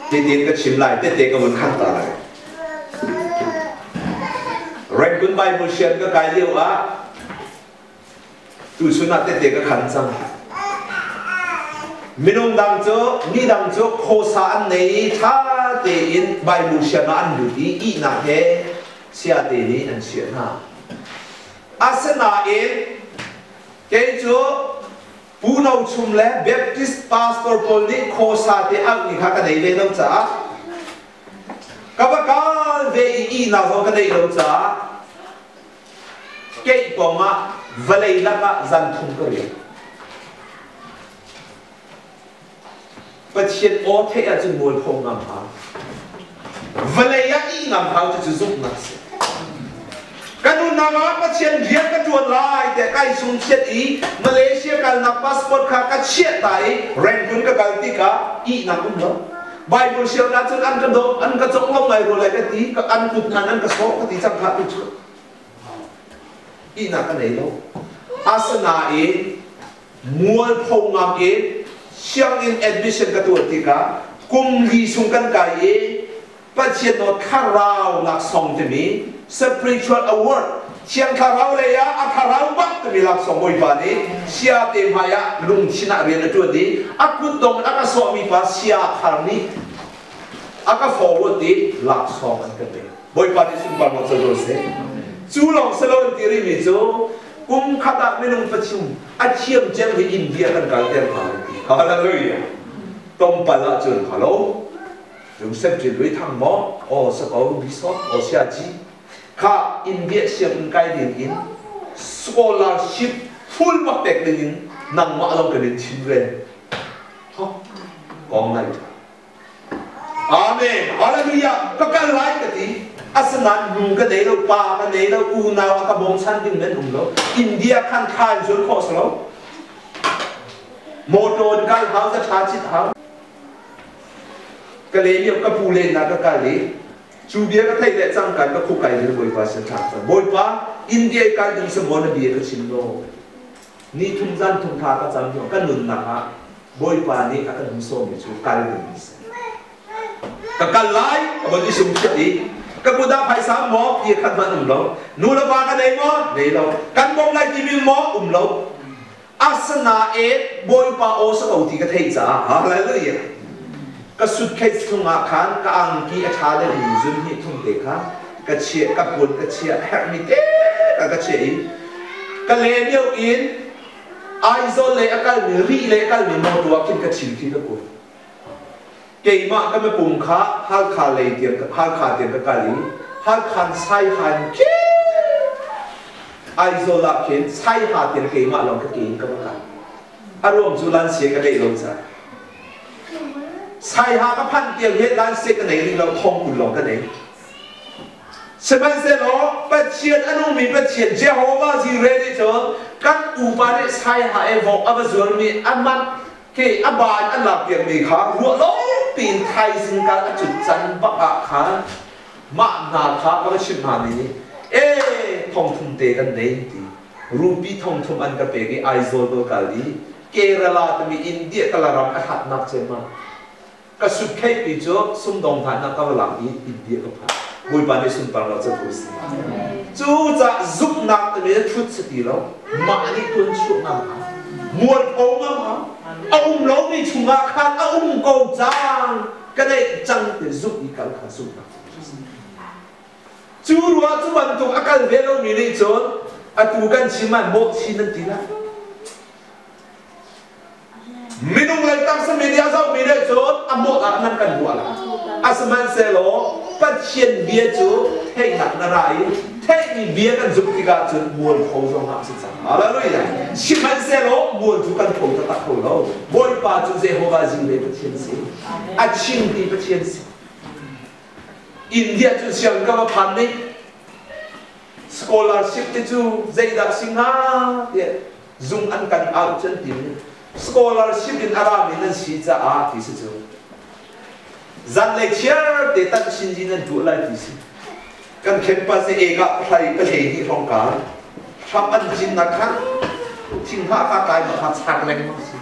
Tete ka chim lai, tete ka vun khanta lai. Rankun Bible shian ka kai lio ah tu sunah tete ka khan cang. Minung dang cu ni dang cu khosa an nei tha tein Bible shian ah an lut i ihnak he sia te nih an chiah hna. Asinain kei cu Pu No Chum le Baptist pastor pawl nih khosa te alhmi kha ka nei ve lo caah ka va kal ve i ihnak zong ka nei lo caah keih kong ah vawlei lakah zan thum ka riak. Pathian aw theih ahcun mual pho ngam hau. Vawlei ah ih ngam hau cu zumhnak si. Kan unau ah Pathian rian ka ṭuan lai tiah kai sum chiat i Malaysia kalnak passport kha ka chiah ta i rank ka kal tikah ihnak um lo. Bible siangna cun an ka do an ka cong ngam ngai rua lai ka ti ka an kut nan an ka so ka ti cang kha tu cu ihnak ka nei lo. Asanain mualphongak i sianginn admission ka tuah tikah kum li sung kan kai i Pathian nawl thlarau laksawng timi spiritual award siang thlarau lei ah a thlarau bang timi laksawng bawipa nih sia te hmai ah lungthin ah rian a ṭuan i a kutdong in a ka suahmi pa sia thar nih a ka forward i laksawng an ka pek Bawipa nih sunparnak ruang cu a si. Cu lawng si lo an ti rihmi cu kum khat ah minung fachim a thiam cem hi India kan kal ter hna an ti. Hallelujah. Tlawmpal ah cun ka lo. Joseph Chin Lui Thang maw, aw Sako Bishop, aw Siaci, kha India sianginn kai ding in scholarship full bak pek ding in nangmah lawng kan in chim ve. Hok, kong ngai. Amen. Hallelujah. Ka kal lai ka ti. Asinain nu ka nei lo, pa ka nei lo, unau a ka bawmchan ding men um lo. India khan tha in zul khawh lo. Motor in kal hau, za tha chit hau. Ka le liu ka pu le na ka kal i cu bia ka thei le cang kan ka khu kai le boipa se thak ta boipa india kal ding se mo na bia ka chin lo Ni thum zan thum thla ka cam hnu ka nunnak ah Bawipa nih a kan hmusawmi cu kal dingmi si. Ka kal lai ka von i sum chiah i ka kut ah phaisa maw ti khat hmanh um lo nu le pa ka nei maw nei lo kan bawm lai ti bil maw um lo asinain Bawipa aw sa ko ti ka theih caah hallelujah ka sutkheis chung ah khan ka angki a ṭha deuhmi zun hnih thum te kha ka chiah ka put ka chiah a herhmi te ka ka chiah i ka le lio in Aizawl lei a kalmi ri lei a kalmi motor ah khin ka chim khi ka kut keimah ka mepum kha Halkha lei tiang Halkha tiang ka kal i Halkhan Saihan khi Aizawl ah khin Saiha tiang keimah lawng ka ke in ka va kal a ruang cu lansia ka dei lo cah Saiha ka phanh tiang he lansia ka nei rih lo thong kun lawng ka nei Sihmanhsehlaw Pathian a nungmi Pathian Jehovah zire nih cun kan upa nih saiha i vok a va zualmi a manh ke a ba in an lak piakmi kha ruah lawng piin thaizing kal a cut can bak ah khan mah hna kha ka va chimh hngami nih e thongthum te kan nei ti rupi thongthum an ka pek i Aizawl ka kal i Kerala timi India kalaram a hlatnak cemma Ka sut-kheihpi cu sumdawng hna nih a ka va lak i innpi ah ka phan. Bawipa nih sunparnak cu a ka wisik. Cucaah zumhnak timi cu thut si ti lo, mah nih cun chuahnak a hau, mualpho ngangau, a um lomi chungah khan a um ko cang, ka neih cang ti zumh i kal kha zumhnak Cu ruah cu bantuk a kal ve lomi nih cun atu kan chim ah mawhchin an ti lai. Minung le taksa media zohmi nih cun a mawh ah nan kan ruah lai. A sihmanhsehlaw Pathian bia cu theihnak na ra i theihmi bia kan zumh tikah cun mual pho zong ah a si cang. Hallelujah! Sihmanhsehlaw mual cu kan pho taktak kho lo. Bawipa cu Jehovah zing ve Pathian si. A chim ti Pathian si. India cu siangkam a phan nih scholarship te cu zeidah si hnga tiah zung an kan auh cun tin scholarship in a rami nan si caah ti si cu zanlei chiar te tan sinji nan tuah lai ti si kan campus i ega phlai ka lei ni hong ka hrap an chin na kha thingha kha kai ma kha chak leng ma si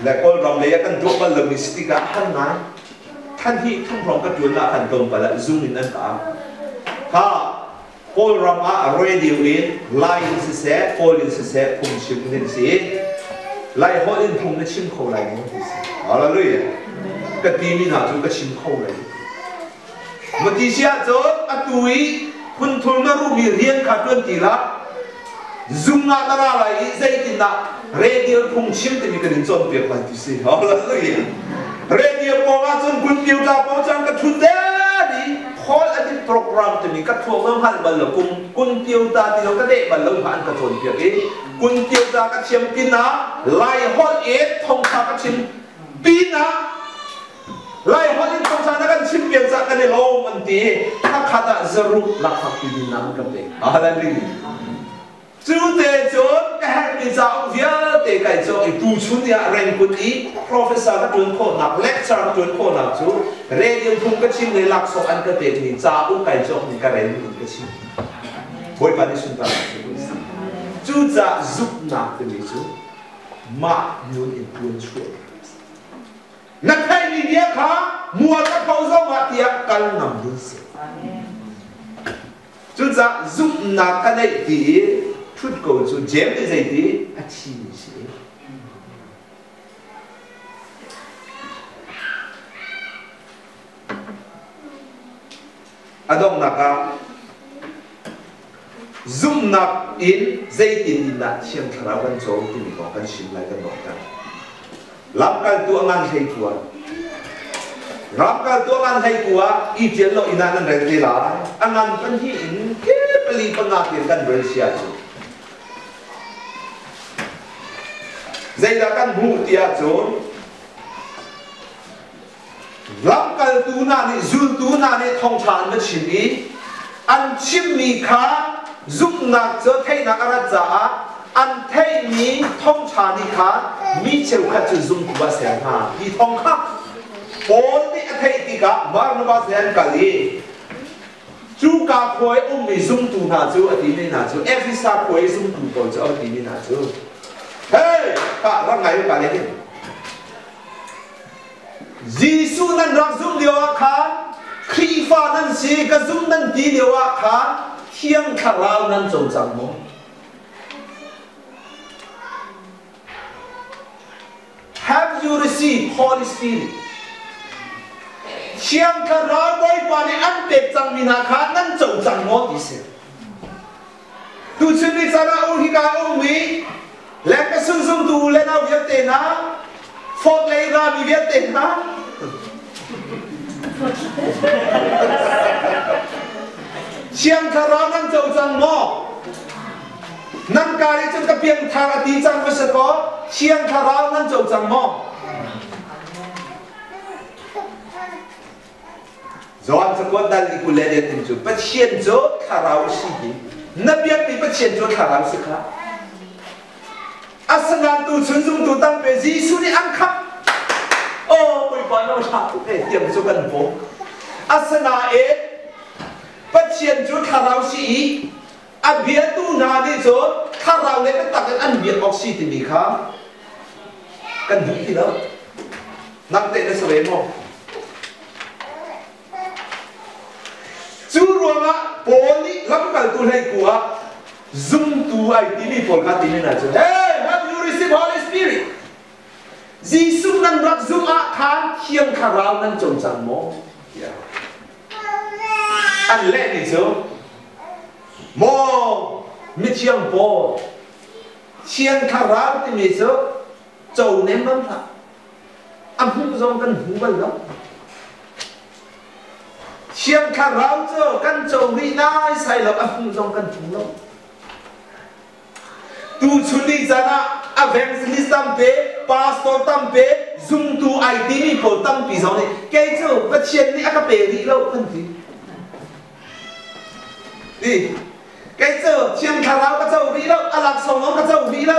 le kol ram le kan do bal lomi stick ah kan ngai than hi than rong ka tuan la kan tom pala zung in an ta kha Kawlram ah radio in Lai in siseh, Kawl in siseh phungchim nan si. Lai holh in phung na chim kho lai maw ti si. Hallelujah. Ka timi hna cu ka chim kho lai. Mati si ahcun atu i phunthul na ruhmi rian kha tuan ti la. Zung ah na ra lai i zeitindah radio phungchim timi kan in cawnpiak lai ti si. Hallelujah. Radio pawl ahcun hmunpio tla pawl cun ka ṭhut te i Paul a dit program timi ka thuam a hngalh bal lo kum kun pio ta ti lo ka deh bal lo hna an ka cawnpiak i kun pio ta ka thiam pinah Lai holh in thongtha ka chim pinah Laiholh in tung caan a kan chimh pian cah kan i lawm an ti. Thakhat ah zaruk lakfak piin nam kan pek. Hallelujah. Cu te cun ka herhmi cauk vialte kai cawk i tu chun i ah rengkut i professor ka ṭuan khawhnak lecture ka ṭuan khawhnak cu radio phung ka chim le laksawh an ka pekmi cauk kai cawkmi ka rel in ka chim. Bawipa nih suntar Cucaah zumhnak timi cu mah nun in ṭuan chuah Na theihmi bia kha mual ka tho zongah tiah kal ngam ding si. Cucaah zumhnak ka neih ti i ṭhutko cu Jeim nih zeiti a thimi si. A donghnak ah zumhnak in zeitin in dah thiang thlarau kan caw timi kong kan chim lai kan nawhter. Lamkaltu a ngan hlei tu ah Ramkaltu a ngan hlei tu ah i tial lo ina nan rel te lai. A ngan pahnih in ke pali panga te kan rel sia cu. Zeidah kan hmuh tiah cun Lamkaltu hna nih zultu hna nih thawngṭha an va chim i an chimmi kha zumhnak cu theihnak a rat caah an theihmi thawngṭha nih kha mi cheukhat cu zumtu a ser hna ti thawng kha Paul nih a theih tikah Barnabas nih an kal i cuka khua i ummi zumtu hna cu a timi hna cu Efesa khua i zumtu pawl cu a timi hna cu hei tah ra ngai u ka le Jesuh nan rak zumh lio ah khan Khrihfa nan si ka zumh nan ti lio ah khan Thiang Thlarau nan co cang maw? Have you received Holy Spirit? Thiang Thlarau Bawipa nih an pek cangmi hna kha nan co cang maw ti si. Tuchun ni caan ah u hika ummi lengka sungzumtu u le nau vialte hna fawt lei rami vialte hna Siang thlarau nan co cang maw? Nan ka nih cun ka piangthar a ti cang vasa kaw siang thlarau nan co cang maw? John cakuat dal i kul le let in cu Pathian cu thlarau si hi na biakmi Pathian cu thlarau si kha a sangantu chun zumtu tampe Jesuh nih an khap aw Bawipa no hra te tiang cu kan bawm asanain Pathian cu thlarau si i A biatu hna nih cun thlarau le biatak in an biak awk si timi kha kan duh ti lo. Nangte na sare maw? Cu ruangah Paul nih lamkaltu hleiku ah zumtu ai timi pawl kha timin ahcun, hey, have you received Holy Spirit? Jesuh nan rak zumh ah khan Thiang Thlarau nan co cang maw? Tiah an leh ni cu maw mithiang Paul Thiang Thlarau timi cu co nem bang hlah a hmuh zong kan hmu bal lo Thiang Thlarau cu kan co rih lai sai lo a hmuh zong kan hmu lo Tuchun ni caan ah evangelist tampi, pastor tampi, zumtu ai timi pawl tampi zong nih kei cu Pathian nih a ka pe rih lo an ti. Ti. Kei cu Thiang Thlarau ka co rih lo, a laksawng ka co rih lo.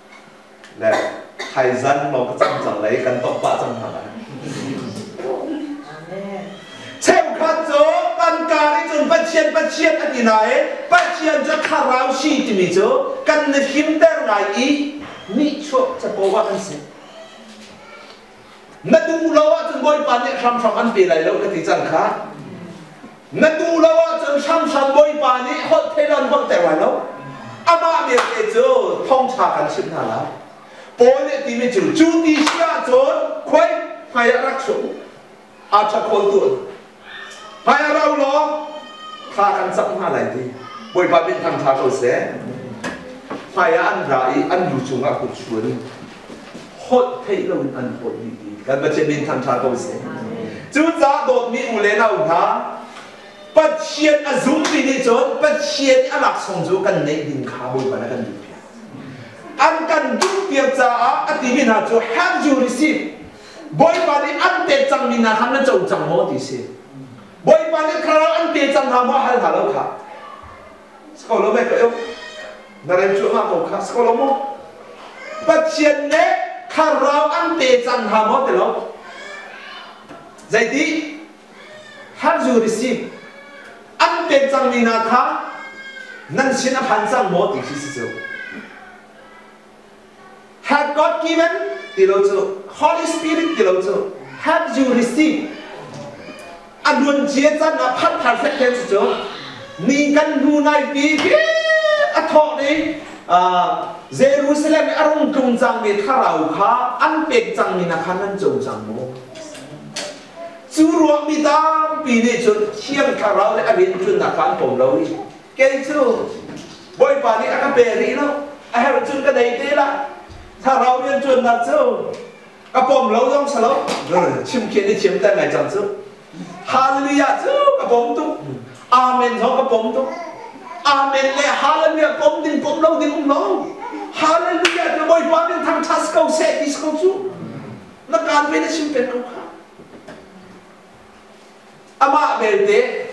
le thaizan lo ka cam cang lei kan top pah cang hna lai cheukhat cu kan kar i cun pathian pathian an i nain pathian cu thlarau si timi cu kan ni himter ngai i nihchuak capo ah an si na duh lo ahcun Bawipa nih hramhram an pe lai lo ka ti cang kha na duh lo ahcun hramhram Bawipa nih holh thei lo in holhter lai lo amah vialte cu thongtha kan chimh hna lai Paul nih timi cu cu ti si ahcun khuai hmai ah rak sung a ṭhakhol tuan hmai a rau law thla kan cam hna lai ti bawipa min thang ṭha ko seh hmai ah an ra i an lu cungah kutchuan holh theih loin an holh dih ti kan Pathian min thang ṭha ko seh cucaah dawtmi u le nau hna Pathian a zummi nih cun Pathian i a laksawng cu kan neih ding kha bawipa na kan duh piak an kan duh piak caah a timi hna cu have you received Bawipa nih an pek cangmi hna kha na co cang maw ti si. Bawipa nih thlarau an pe cang hna maw hal hna lo kha. Sa ko lo mai ka yuk. Na rem cu amah ko kha sa ko lo maw. Pathian nih thlarau an pe cang hna maw ti lo. Zeiti? Har zu risi. An pek cangmi hna kha nan sin a phan cang maw ti si si cu. Had God given ti lo cu Holy Spirit ti lo cu have you received a nuan cie caan ah phat thar fek khen su cu mi kan nu nai pi a thawh ni Jerusalem i a rung tlung cangmi thlarau kha an pek cangmi na khan an co cang mu cu ruang mi tampi nih cun thiang thlarau le a rian ṭuannak kha an pom lo i kei cu bawipa nih a ka pe rih lo a herh cun ka dei te la thlarau rianṭuannak cu ka pom lo zong salo chimkhian i chiam ter ngai cang cu hallelujah cu ka pom tuk amen zong ka pom tuk amen le hallelujah pom ding pom lo ding um lo hallelujah cu bawipa min thangṭhas ko seh ti ko cu na kaan ve na sim pen ko kha Amah belte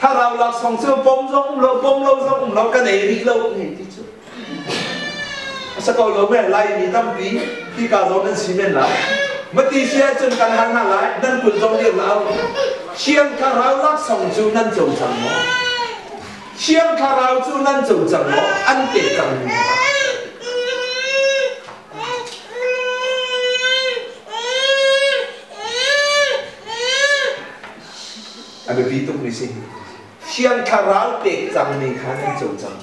thlarau laksawng cu pom zong um lo pom lo zong um lo ka nei rih lo ne ti cu a sa ko lo me lai mi tampi ti ka zo nan si men la mati si cun kan han ha lai nan kun zong dir la au siang thlarau laksawng cu nan co cang maw siang thlarau cu nan co cang maw an te cang mi A biapi tukmi si. Thian thlarau pek cangmi kha nan co cang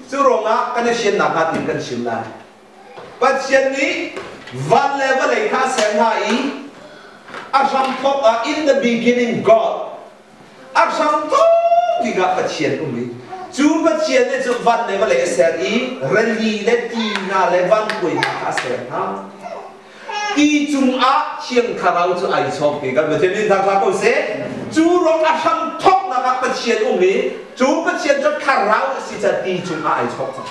Cu ruangah kan i siannak ah tin kan sim lai. Pathian nih van le vawlei kha a ser hna i a hramthawk ah in the beginning God A hrang ko tikah Pathian um i cu Pathian nih cun van le vawlei a ser i rali le ti hna le vangkuai hna kha a ser hna. Ti cungah thiang thlarau cu ai chawk te kan Pathian min hna ko seh. Cu ruang a hrang thoknak ah Pathian um i cu Pathian cu thlarau a si ca ti cungah ai chawk cang.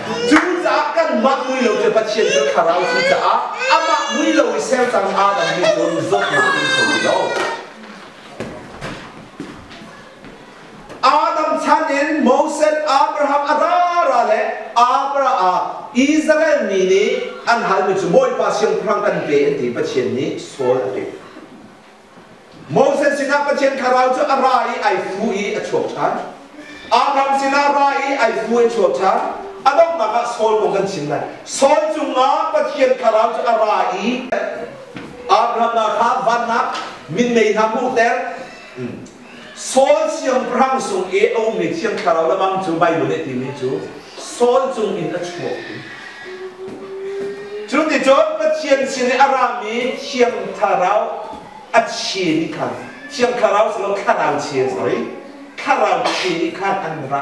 Cucaah kanmah mui lo cu Pathian cu thlarau cu caah amah mui lo i sertang Adam nih cun zumhnak in kho ti lo. Adam chan in Moses Abraham a rara le Abra ah Israel mi nih an halmi cu Bawipa siangpahrang kan pe an ti Pathian nih sual a pek. Moses sinah Pathian thlarau cu a ra i ai fu i a chuak ṭhan. Abraham sinah ra i ai fu i chuak ṭhan. A donghnak ah Saul kong kan chim lai. Saul cungah Pathian thlarau cu a ra i Abraham hna kha vannak min ngei hna hmuhter. Saul siangpahrang sung i a ummi thiang thlarau lamang cu Baibal nih a timi cu Saul cung in a chuak i cuticun Pathian sin i a rami thiang thlarau a chi nih khan thiang thlarau silo thlarau chi sorry thlarau chi nih khan an ra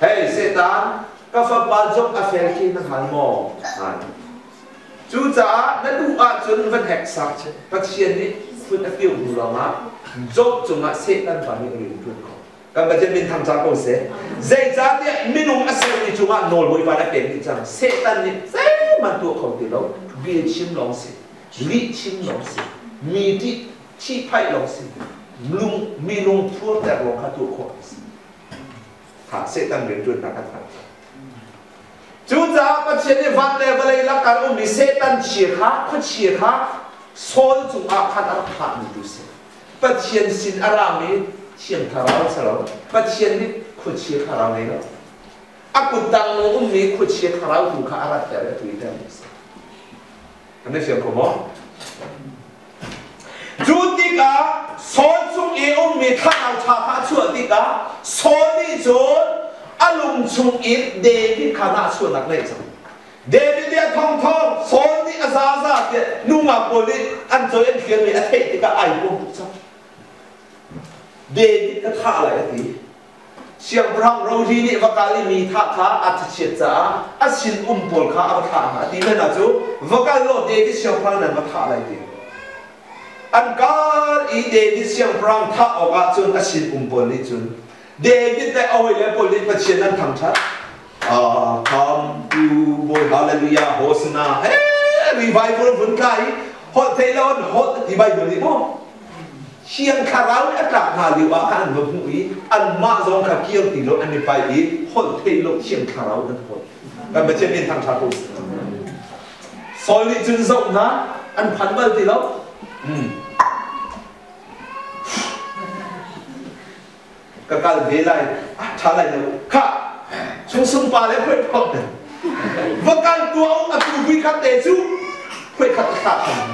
Hei Satan, ka fapa zong a fel khi na hngal maw? Hngal. Cucaah na duh ahcun van heksak che. Pathian nih phun a piu hnu lawngah Job cungah Satan pa nih a rianṭuan ko. Kan Pathian min thang cang ko seh. Zeicahtiah minung a sermi cungah nawlbawi van a pek dih cang. Satan nih zeihmanh tuah kho ti lo. Vilchim lawng si, lihchim lawng si, mi ṭih, ṭhihphaih lawng si, lung, minung phurter lawng kha tuah khawh a si. ha Satan rianṭuannak kha thar Cucaah Pathian nih van le vawlei lakah um mi Satan chia kha khuachia kha Saul cungah khan a rak phakmi tu si. Pathian sin a ra mi Thiang Thlarau si lo. Pathian nih khuachia thlarau ngei lo. A kuttang lung um mi khuachia thlarau tu kha a ratter i a tuiter mi si. Kan i fiang ko maw? Cu tikah Saul cung i ummi thlarau ṭha kha a chuah tikah Saul nih cun a lung chung in David kha nahchuahnak a ngeih cang. David nih a thongthong, Saul nih a zaza tiah nungak pawl nih an toi an fialmi a theih tikah ai bawm tuk cang. David ka thah lai a ti. Siangpahrang Rohi nih va kal i mi thah kha a thachiat caah a sin um pawl kha a va thlah hna. Ti men cu va kal law David siangpahrang nan va thah lai ti. An kar i David siangpahrang thah awkah cun a sin um pawl nih cun David le a hawile pawl nih Pathian an thangṭhat. Ah, come to Bawi Hallelujah, Hosanna, hey! Revival vun tla i holh thei lo an holh ti Baibal nih maw? Thiang Thlarau nih a tlak hna lio ah khan an va hmuh i anmah zong kha kir ti lo an i pai i holh theih lo Thiang Thlarau an holh. Kan Pathian min thangṭha ko. Saul nih cun zoh hna an phan bal ti lo. Hmm. ka kal ve lai ah ṭha lai lo khah sungsung pa le hoi thawng va kal tuah a tu vui khat te cu hoi khat ka thang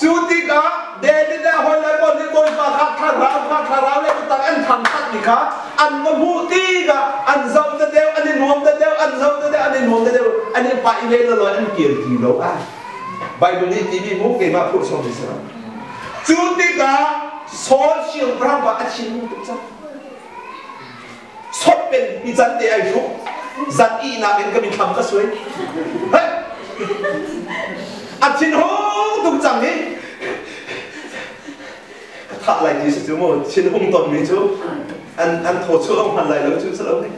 cu tikah David le hoi le bon nih bawipa kha thlarau kha thlarau le tak an thang khat mi kha an va hmuh tikah an zau te deuh an i nuam te deuh an zau te deuh an i nuam te deuh an i pa i le loloi an kir ti lo ai Baibal nih timi mu keimah phursawm mi sila. Cu tikah Saul siangpahrang pa a chim tuk cang. Sotpen i can te ai hru. Zat i nakin ka mitthlam ka suai. Hei! A thinhung tuk cang i ka thah lai ti si cu mu thinhung ton mi cu an an tho chuang hman lai lo cu salo ne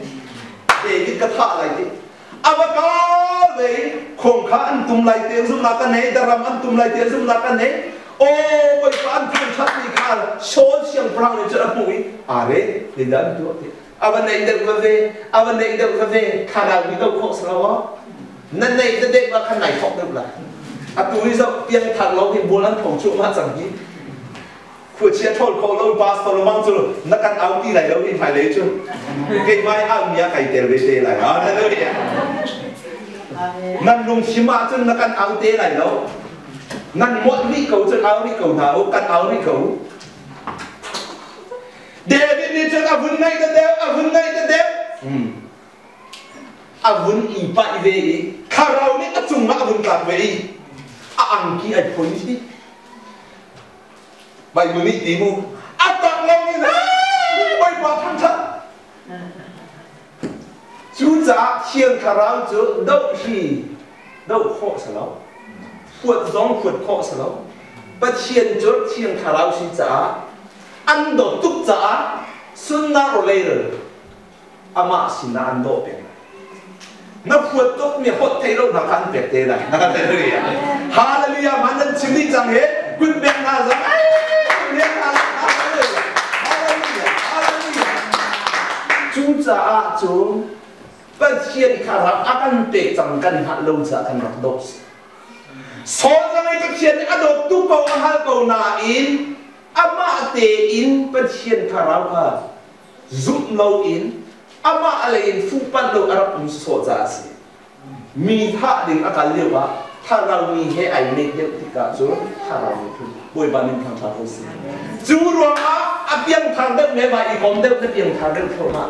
David ka thah lai ti a va kau ve in khong kha an tum lai te zumnak ka nei daram an tum lai te zumnak ka nei aw bawipa an thangthat ni kha saul siangpahrang nih cun a hmuh i are din da an tuah ti a va nei deuh va ve a va nei deuh va ve kha dal mi do khawh sarawa nan nei te deuh khan nai thok deuh la atu hi zo piang thang lo hi bual an thong chu ma cang hi Khuachia ṭhawl khawh lo Pastor Lamang cu na kan au ti lai lo i hmailei cu keimah i auhmi ah kai tel ve te lai. Hallelujah. Nan lungchim ahcun na kan au te lai lo. Nan mawnh rih ko cun au rih ko hna u, kan au rih ko. David nih cun a vun ngaih te deuh, a vun ngaih te deuh. A vun i paih ve i thlarau nih a cungah a vun tlak ve i a angki ai phun dih. Bainu nih tim u, a tak lomi hna Bawipa thangṭhat. Cucaah Thian Thlarau cu doh hi doh khawh a si lo. Huat zong huat khawh a si lo. Pathian cu Thiang Thlarau si caah an dawt tuk caah sunnar rel amah sinah an dawh peng lai. Na huat tukmi hot thei lo hna kha an pek te lai. Hallelujah. Hallelujah. Ma nan chim ni cang he kun beng hna zong ai kun beng hna zong hallelujah. Hallelujah. Hallelujah. Cu caah cu Pathian kha rak a kan pek cang kan hngalh lo caah kan rak dawp si. Saul zong i Pathian nih a dawptu ko a hal ko nain amah tein Pathian thlarau kha zumh loin amah lei in fuhpanh lo a rak um sawh caah a si. Mi thah ding a kal lio ah thlarau mi he ai mehdeuh tikah cun thlarau miphun Bawipa min thangṭhat ko si. Cu ruangah a piangthar deuh ne vai i kom deuh na piangthar deuh thluahmah.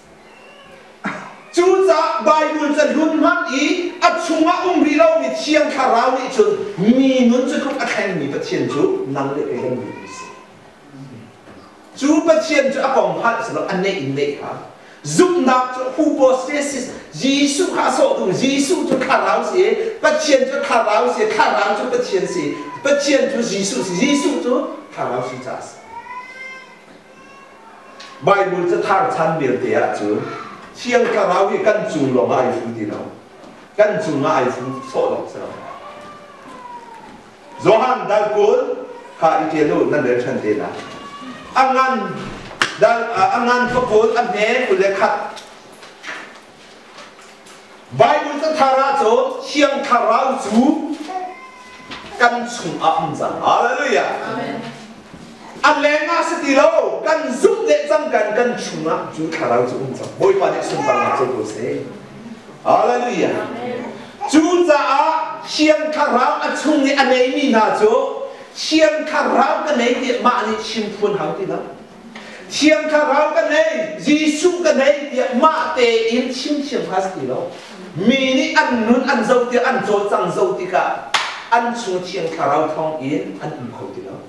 Cucaah Baibal cu lut hmanh i a chungah um rih lomi Thiang Thlarau nih cun mi nun cu tluk a thlengmi Pathian cu nang le kei kan bu a si. Cu Pathian cu a pamhal a si lo, a neih in neih ha. Zumhnak cu hypostasis, Jesuh kha a sawhtu, Jesuh cu thlarau si i, Pathian cu thlarau si i, thlarau cu Pathian si i, Pathian cu Jesuh si, Jesuh cu thlarau si caah a si. Baibal cathar chan vialte ahcun Thiang Thlarau hi kan cung lawng ah ai fu ti lo. Kan cung ah ai fu sawh lo si lo. Johan Dalkul kha i ṭial u nan rel ṭhan te la. A ngan dal a ngan pakul a hne kul le khat Baibal cathar ahcun thiang thlarau cu kan chungah an cang. Hallelujah. An lengah si ti lo, kan zumh leh cang kan kan chungah cu thlarau cu um cang. Bawipa nih sunparnak cu ko seh. Hallelujah. Cucaah thiang thlarau a chung i a neimi hna cu thiang thlarau ka nei tiah mah nih chim phuan hau ti lo. Thiang thlarau ka ngei, Jesuh ka ngei tiah mah tein chimthiam kha a si ti lo. Mi nih an nun an zoh tiah an cawlcang zoh tikah an chung thiang thlarau thawng in an um kho ti lo.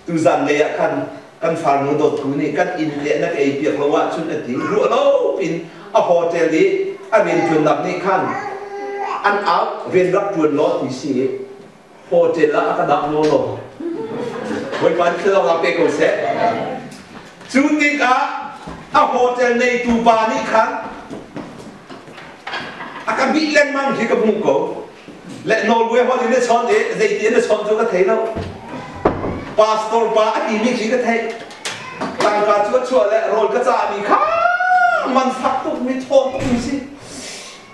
Tuzan lei ah khan kan farnu dawtku nih kan inn te na ka ei piak lo ahcun a ti ruah lo in a hotel i a rianṭuannak nih khan an au rian rak ṭuan law ti si hotel ah a ka dah lawlaw bawipa nih thlalak ah pe ko seh cu tikah a hotel neitu pa nih khan a ka bih lengmang hi ka hmuh ko le Norway holiday chawn i zeiti na chawn cu ka thei lo pastor pa a ti mi khi ka thei tangka cu a chuah le rawl ka ca mi kha man fak tuk mi thawng tuk mi si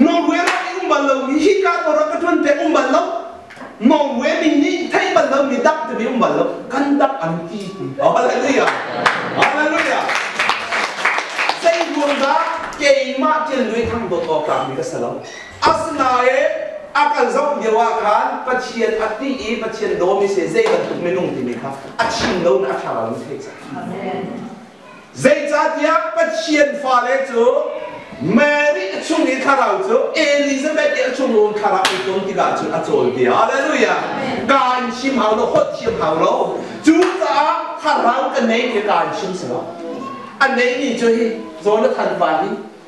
Mawngwe rak i um bal lomi hika to rak ka ṭuan pek um bal lo Mawngwe min nih thei bal lomi tak te um bal lo kan tak an ti Hallelujah Hallelujah Zei ruang dah keimah thilnui thang dawt awk tlakmi ka sa lo Asinain a kan zoh lio ah khan Pathian a ttih i Pathian dawmi se zei bantuk minung timi kha a chim lo in a thlarau in theih cang Zeicahtiah Pathian fale cu Mary a chung i thlarau cu Elizabeth i a chungin thlarau i ton tikah cun a cawlte. Hallelujah! Kaa in shim hau lo, hot thiam hau lo. Cucaah thlarau kan nei hi kaa in shim silo. A nei ni cu hi Jonathan pa hi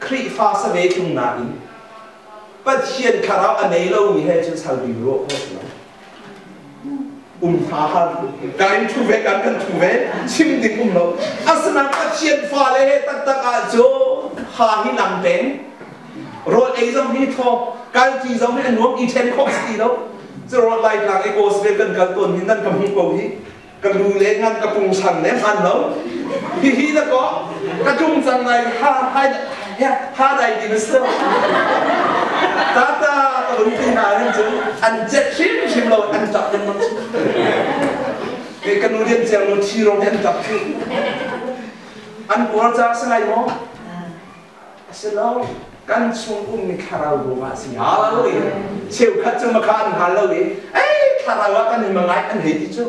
Khrihfa savehtlungnak in Pathian thlarau a nei lomi he cun salmi ruah ko si lai. Umhra har, kan in thu ve, kan kan thu ve, chim ding um lo. Asinain Pathian fale he taktak ah cu ha hi lang peng, rawl ei zong hi thaw, kan ti zong hi a nuam i then khawh si ti lo. Cu rawl lai tlang i kos vel kan kal tawn hi nan ka hmuh ko hi. ka lu le ngam ka pung sang ne hman lo hihi da ko ka tung cang lai ha ha ha dai din so tata ka lung thi hna rin cu an jet hrim hrim lo an tap din man ke ka nu dian chiang lo thi rong an tap an puar cha sangai mo a si lo kan chung ummi thlarau ruangah a si haleluya cheukhat cu makha an hal lo i ei thlarau ah kan i mangai an hei ti cu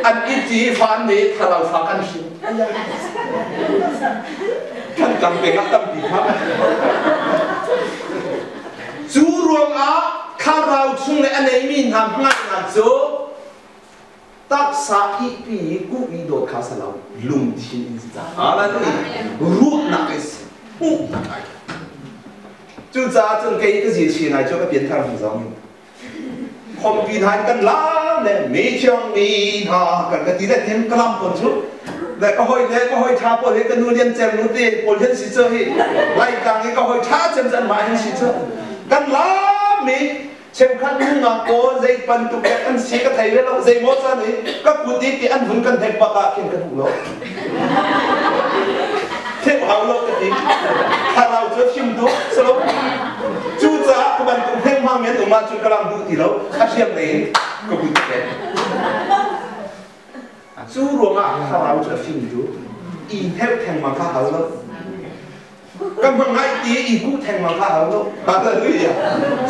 an iti fan i thlarau fa kan hrim kan tam pek ah tampi kham cu ruangah thlarau chung le a neimi hna hmangan cu taksa ihpi i kuh i dawt kha salo lungthin in si caah ruahnak in si hmuh ai cucaah cun kei ka zil chin lai cu ka pian thar hnu zong in khompi hna in kan lam le mi thiang mi hna kan ka ti le then ka lam pawn cu le ka hoi le ka hoi tha pawl hi ka nu lian cem nu te pawl hin si cu hi lai tang i ka hoi tha cem zan ma hin si cu kan lam mi Chemkhat nungak pawl zei bantukin an si ka thei ve lo, zeimaw caan i ka kut i ti an hun kan hnek bak ah khin ka duh lo. Theih hau lo ka ti. Thlarau cu him duh si lo. Cucaah ka bantuk hnemhang men um ahcun ka lang duh ti lo. A hriam lei in ka hut ve. Cu ruangah thlarau cu a hringtu i hnemh theng ma kha hal lo kan van ngaih ti i kuh theng ma kha hal lo hallelujah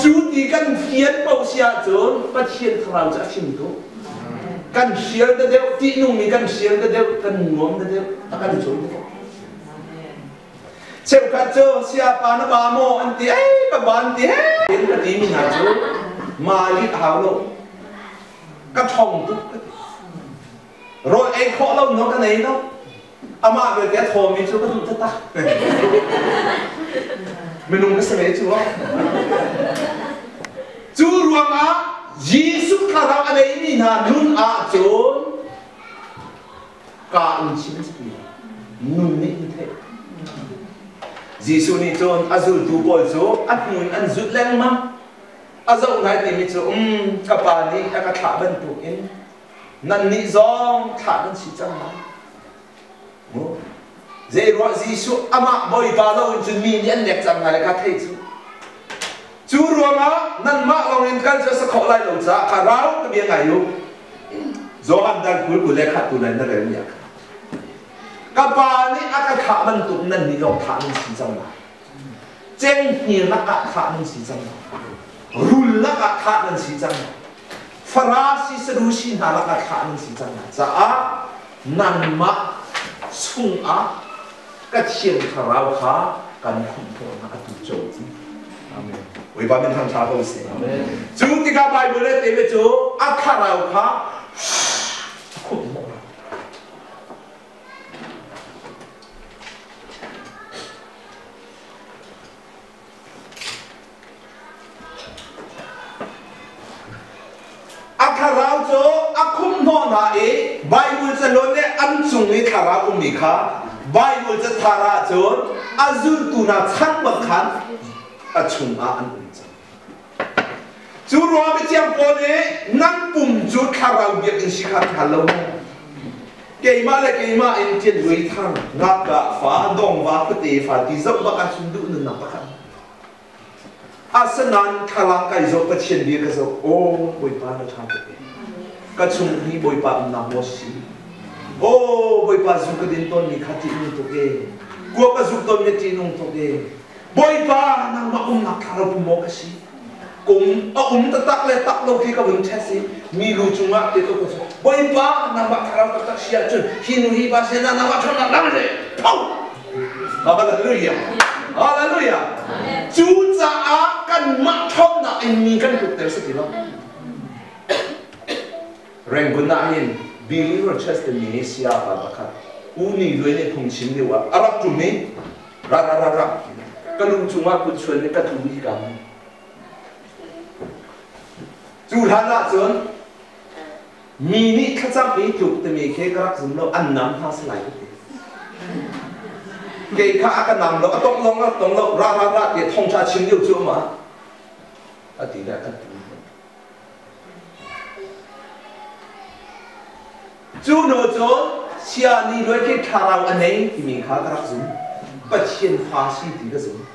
cu ti kan fian paoh si ahcun Pathian thlarau cu a hringtu kan hrial ta deuh tihnung mi kan hrial ta deuh kan nuam ta deuh a kan cum ta deuh cheukhat cu siapa na ba maw an ti ai ka ban ti he ka ti mi hna cu ma lit hau lo ka thong tuk ka ti rawl ei khawh lo no ka nei lo amah belte a thawmi cu ka duh ta tak minung ka si ve cu cu ruangah Jesuh thlarau a neimi hna nun ahcun ka in chim mi nun nih hin theih Jesuh nih cun a zultu pawl cu a hnu in an zulh lengmang a zoh lai timi cu um ka pa nih a ka thlah bantuk in nan nih zong thlah nan si cang lai zei ruah Jesuh amah bawipa lo in cun mi nih an nek cang lai ka thei cu cu ruangah nanmah lawng in kal cu a sakhawh lai lo caah ka rau ka bia ngai u Johan dan kul kul le khat tu lai na rel ya ka pa nih a ka thlah bantuk nan nih lawng thah nan si cang lai cenghnirnak ah thah nan si cang rullak ah thah nan si cang farasi sadusi hna lakah thlah nan si cang caah nangmah chungah ka thian thlarau kha kan khumh khawh hna atu co ti Amen. Bawipa min thang tha ko si. Cu tikah Bible le tebe cu a thlarau kha khumh mawh A thlarau cu a khumhnawh hna i Baibal canon nih an cung i thlarau ummi kha Baibal ca thar ahcun a zultu hna chan bang khan a chungah an um cang. Cu ruang biatiang pawl nih nan pum cu thlarau biakinn si kha ṭha lo keimah le keimah in ṭian duai thar ngakṭah fa dongva khuate fa ti zoh bak ahcun duh nunnak pakhat asinain thlarau kai zoh pathian bia ka zoh aw bawipa na ṭha tuk ka chung hi bawipa umnak maw si aw bawipa zu ka din tawnmi kha ṭihnung tuk e kua ka zuk tawnmi ṭihnung tuk e Bawipa nangmah umnak thla lo pum maw ka si kum a um taktak le tak lo khi ka vun ṭhet si mi lu cungah te ka kuat Bawipa nangmah thlarau taktak si ahcun hi nu hi ba se na nangmah ṭhawnnak nam se pho hallelujah hallelujah cu caah kanmah ṭhawnnak in mi kan hlutter si ti lo Rangoon ahhin believer church timi hi siya pa pakhat U Ni Lwe nih phungchim lio ah a rak ṭum i Rang rang rang. Ka lung chungah kut chuan in ka tlu i kam. Cu hlan ahcun mi nih thlacam i tluk timi khi ka rak zum lo an nam hna si lai ti. Kei kha a ka nam lo a tong lo a tong lo ra ra ra tiah thongtha chin lio cu ma a ti le a kan tu. Cu hnu cun sia nih luai ke thlarau a nei timi kha ka rak zum. Pathian fa si ti ka zum.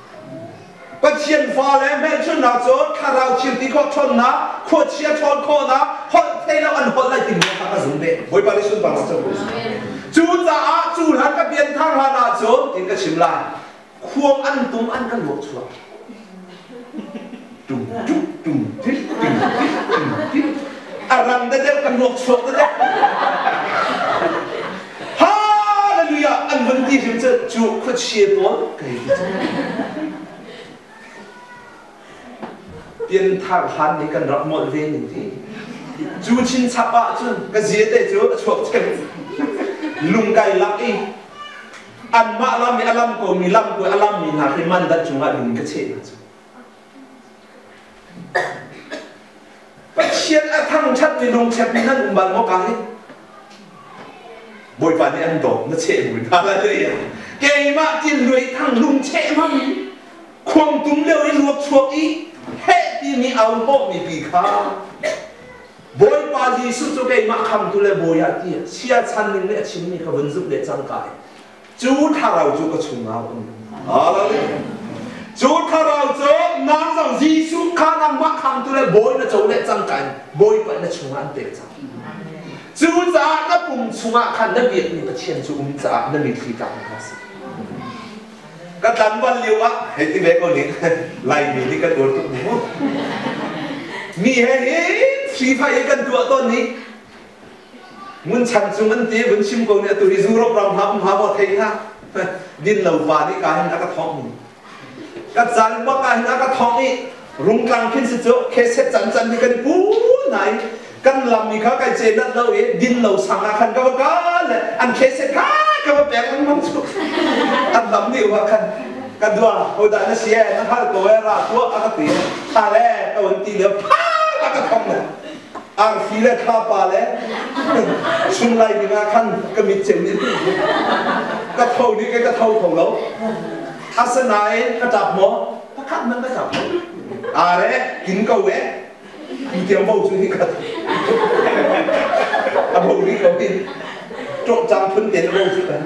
Pathian fa le hmelchunhnak cu thlarau thil ti khawh ṭhawnnak, khuachia ṭhawn khawhnak, holh thei lo an holh lai timi kha ka zum ve. Bawipa nih sunparnak cu ka hmuh. Cucaah cu hlan ka bian thar hlan ah cun, tiin ka chim lai. khuang an tum an kan luak chuak tum tum tum tit tum tit tum tit a rang da deuh kan luak chuak da deuh hallelujah an van ti hrim cu cu khuachie pawl kai ti pian thar hlan ni kan rak mol ve ning hi cu chin chap ah cun ka zie te cu a chuak cang lung kai lak i anmah lam i a lam komi lamkuai a lammi hna khi mandat cungah ding ka cheh hna cu Pathian a thangṭhat mi lungṭhen mi nan um bal maw ka hi Bawipa nih an dawp na cheh bui hna haleluya keimah tin lui thang lungcheh ma mi khuang tum leo i luak chuak i heh ti mi au hawh mi pi kha Bawipa Jesuh cu keimah Khamhtu le Bawiah ti siachan ning nih a chimmi ka vun zumh le cangka in cu thlarau cu ka chungah a um. Hallelujah! Cu thlarau cu nang zong Jesuh kha nangmah Khamhtu le Bawi na co le cangka in Bawipa na chungah an pek cang. Cucaah na pum chungah khan na biakmi Pathian cu um caah na mitthli tlang kha a si. Ka tlanval lio ah hei ti ve ko ning Laimi nih kan uar tuk mu. Mi he hin thlifai hi kan tuah tawn ni ngun chan chung an ti vun chim ko nih atu hi zurok ram hna um ha maw thei na din lo pa nih ka hin aka thong ka caan pa ka hin aka thong i rungtlang khin si cu kheset chan chan hi kan pu nai kan lammi kha kai ce nat lo i din lo sang ah khan ka va kal le an khese kha ka va pek lengmang cu an lam ni uah khan ka dua ho da na si e na hal ko e ra tua a ka ti tha le ka wan ti le pa ka ka thong le arfi le thapa le sun lai min ah khan ka mit chem ni ka tho ni kai ka tho kho lo asanain ka tap mo pakhat man ka tap are kin ko e Hi tiang bo cu hi khat a bo rih lo hi ṭawh cang phun tein a bo cu kan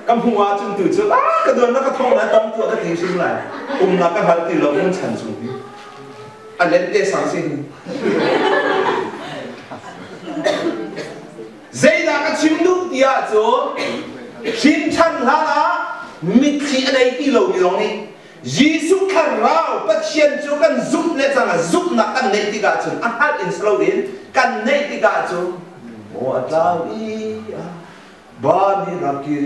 ka hmuh ahcun tu cu a ka duan na ka thong na tam tuah na ti hrim lai umnak ka hal ti lo mun chan chung hi a lente sang sin zeidah ka chim duh ti ahcun hrin ṭhan hlan ah mitthli a nei ti lomi zong nih Jesuh thlarau Pathian cu kan zumh le cang ah zumhnak kan neih tikah cun a hngalh in si loin kan neih tikah cun maw a tlau i ba mi raki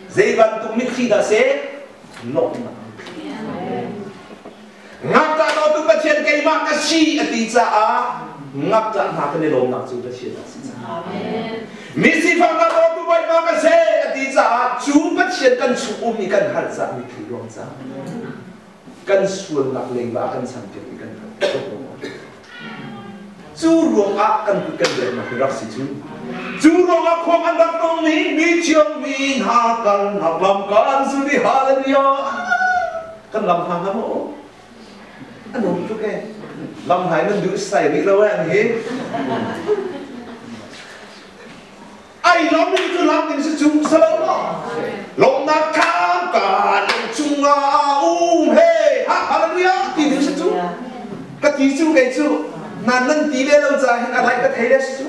zei bantuk mitthli dah se lawmhnak Ngakṭah dotu Pathian keimah ka si a ti caah ngakṭah hna kan i lawmnak cu Pathian a si caah. Misifang ka dotu bawipa ka si a ti caah cu Pathian kan chungum i kan hngalh caah mitthli ruang caah kan sualnak leiba a kan champiak i kan hngalh. Cu ruangah kan kut kan leihnak hi rak si cu. Cu ruangah khawng an rak tongmi mi thiammi hna kan hnaklam kan zul i hallelujah kan lam hna ngam maw? An um tuk e. Lam hai nan duh sai rih lo eh an hi. ai lawmmi cu lak ding si chung sa lo lo lawmnak khangka leng chungah um he ha hallelujah ti ding si cu ka ti cu kei cu nan nan ti le lo ca hin a dai ka thei le si cu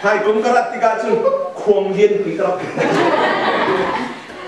hai kum ka rat tikah cun khuang lian pi ka rak